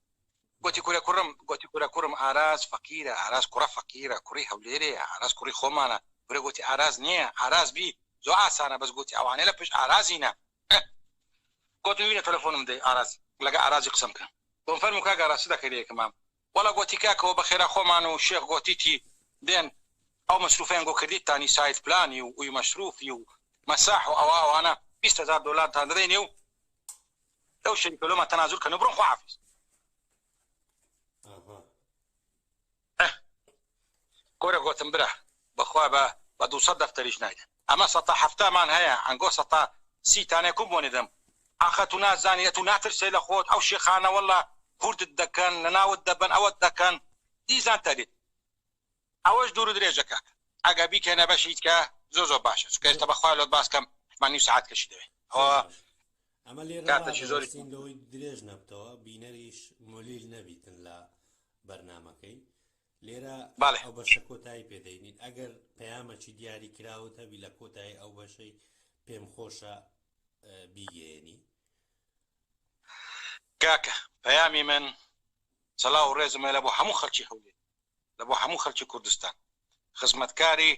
گوتی کورە کوڕم گوتی کورە کوڕم ئاراس فەقیرە ئاراس کوڕە فەقیرە کوڕی هەولێرەیە ئاراس کوڕی خۆمانە کورە گوتی ئاراس نییە ئاراس بی زۆ ئاسانە بەس گوتی ئەوانەی لە پشت ئارازینە گوتم وینە تەلەفۆنم دەی ئاراس لەگە ئارازی قسەم کە گوم فەرموو کاک ئاراس چ دەکەی لە یەکەمام وەڵا گۆتی کاکەوە بەخێرا خۆمان و شێخ گۆتیتی دێن ئەو مەسروفەیان گۆ کردیتتانی ساید پلانی و ئوی مەسروفی و مەساح و ئەوە ئەوانە بیست هەزار دۆلارتان دەدەینێ و لەو شەریفە لۆمان تەنازول کەن و بڕۆن خواحافیز. کورە گۆتم برا بەخوا بە بە دوو سەد دەفتەریش نایدەن. ئەمە سەتا حەفتا مان هەیە ئەنگۆ سەتا سی تانێ کوم بۆنی دەم ئاخە تو نازانی ئەتو ناترسێ لە خۆت ئەو شێخانە واللە کوردت دەکەن لە ناوت دەبەن ئەوەت دەکەن دیزان تەریب ئەوەش دورو درێژە کاکە ئەگە بیکەنە بەشی دیکە زۆر زۆر باشە چونکە ئێستا بەخوای لۆت باس کەم حتمەن نیو سەعات کەشی دەوێ ئەوە زۆر باشە ئەمە لێرە کاتەکی زۆری ڕادەوەستین لەوەی درێژ نەبتەوە بینەریش مولیل نەبیتن لە بەرنامەکەی لێرە ئەو بەشە کۆتایی پێدەینین ئەگەر پەیامەکی دیاری کراوت هەبی لە کۆتایی ئەو بەشەی پێم خۆشە بیگەێنی کاکە پەیامی من سەلاو ڕێزمە لە بۆ هەموو خەلکی هەولێ لە بۆ هەموو خەلکی کوردستان خزمەتکاری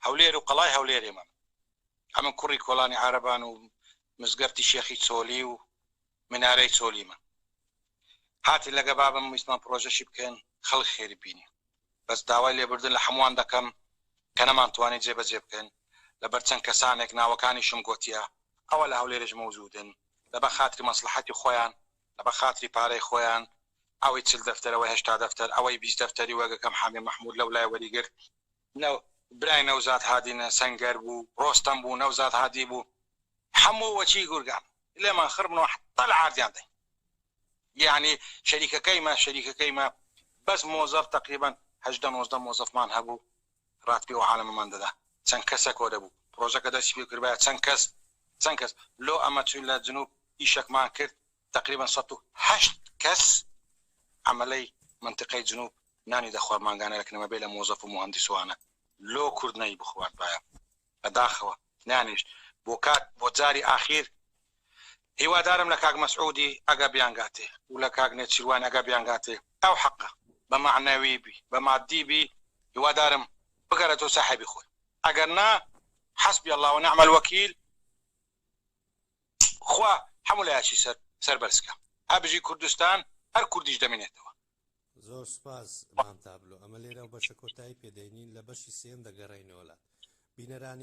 هەولێر و قەڵای هەولێرێ من ئەمە کوڕی کۆلانی عربان و مزگەفتی شێخی چۆلی و منارەی چۆلیمە هاتین لەگە بابم ویستمان پرۆژەشی بکەین خەڵک خێری بینی بەس داوای لێبوردن لە حەموان دەکەم کە نەمان توانی جێ بەجێ بکەین لەبەر چەند کەسانێک ناوەکانیشم گۆتیە ئەوە لە هەولێرش مەوجودن لەبە خاتری مەسڵەحەتی خۆیان لەبە خاتری پارەی خۆیان ئەوەی چل دەفتەر ئەوەی هەشتا دەفتەر ئەوەی بیست دەفتەری وەگەکەم حامێ مەحمود لەولای وەریگرت نە برای نەوزاد هادی نە سەنگەر بوو ڕۆستەم بوو نەوزاد هادی بوو حەموو وەچی گورگان لێمان خڕ بنەوە حەتا لە عاردیان دەین یەعنی شەریکەکەیمە شەریکەکەیمە بەس مۆزەف تەقریبەن هەژدە نۆزدە مۆزەفمان هەبوو ڕاتبی ئەو عالەمەمان دەدا چەند کەسە کۆ دەبوو پڕۆژەکە دەستی پێ کردبایە چەند کەس چەند کەس لۆ ئەمە چووین لە جنوب ئیشەکمان کرد تەقریبەن سەد و هەشت کەس عەمەلەی مەنتیقەی جنوب نانی دەخوارد مانگانە لە کنەمە بێ لە مۆزەف و موهەندیس وانە لۆ کورد نەی بخواردبایە بە داخەوە نانێشت بۆ کات بۆ جاری ئاخیر هیوادارم لە کاک مەسعودی ئەگا بیانگاتێ و لە کاک نێچیروان ئەگا بیانگاتێ ئەو حەقە بە مەعنەوی بی بە مادی بی هیوادارم بگەرێتەوە ساحێبی خۆی ئەگەر نا حەسبی اللە و نعم الوکیل. خوا هەموو لایەکی سەر سەربەرز کا ئە بژی کوردستان هەر کوردیش دەمینێتەوە. زۆر سوپاس مام تابلۆ ئەمە لێرە بەشە کۆتایی پێدەینین لە بەشی سێیەم دەگەڕێینەوە لات بینەرانی.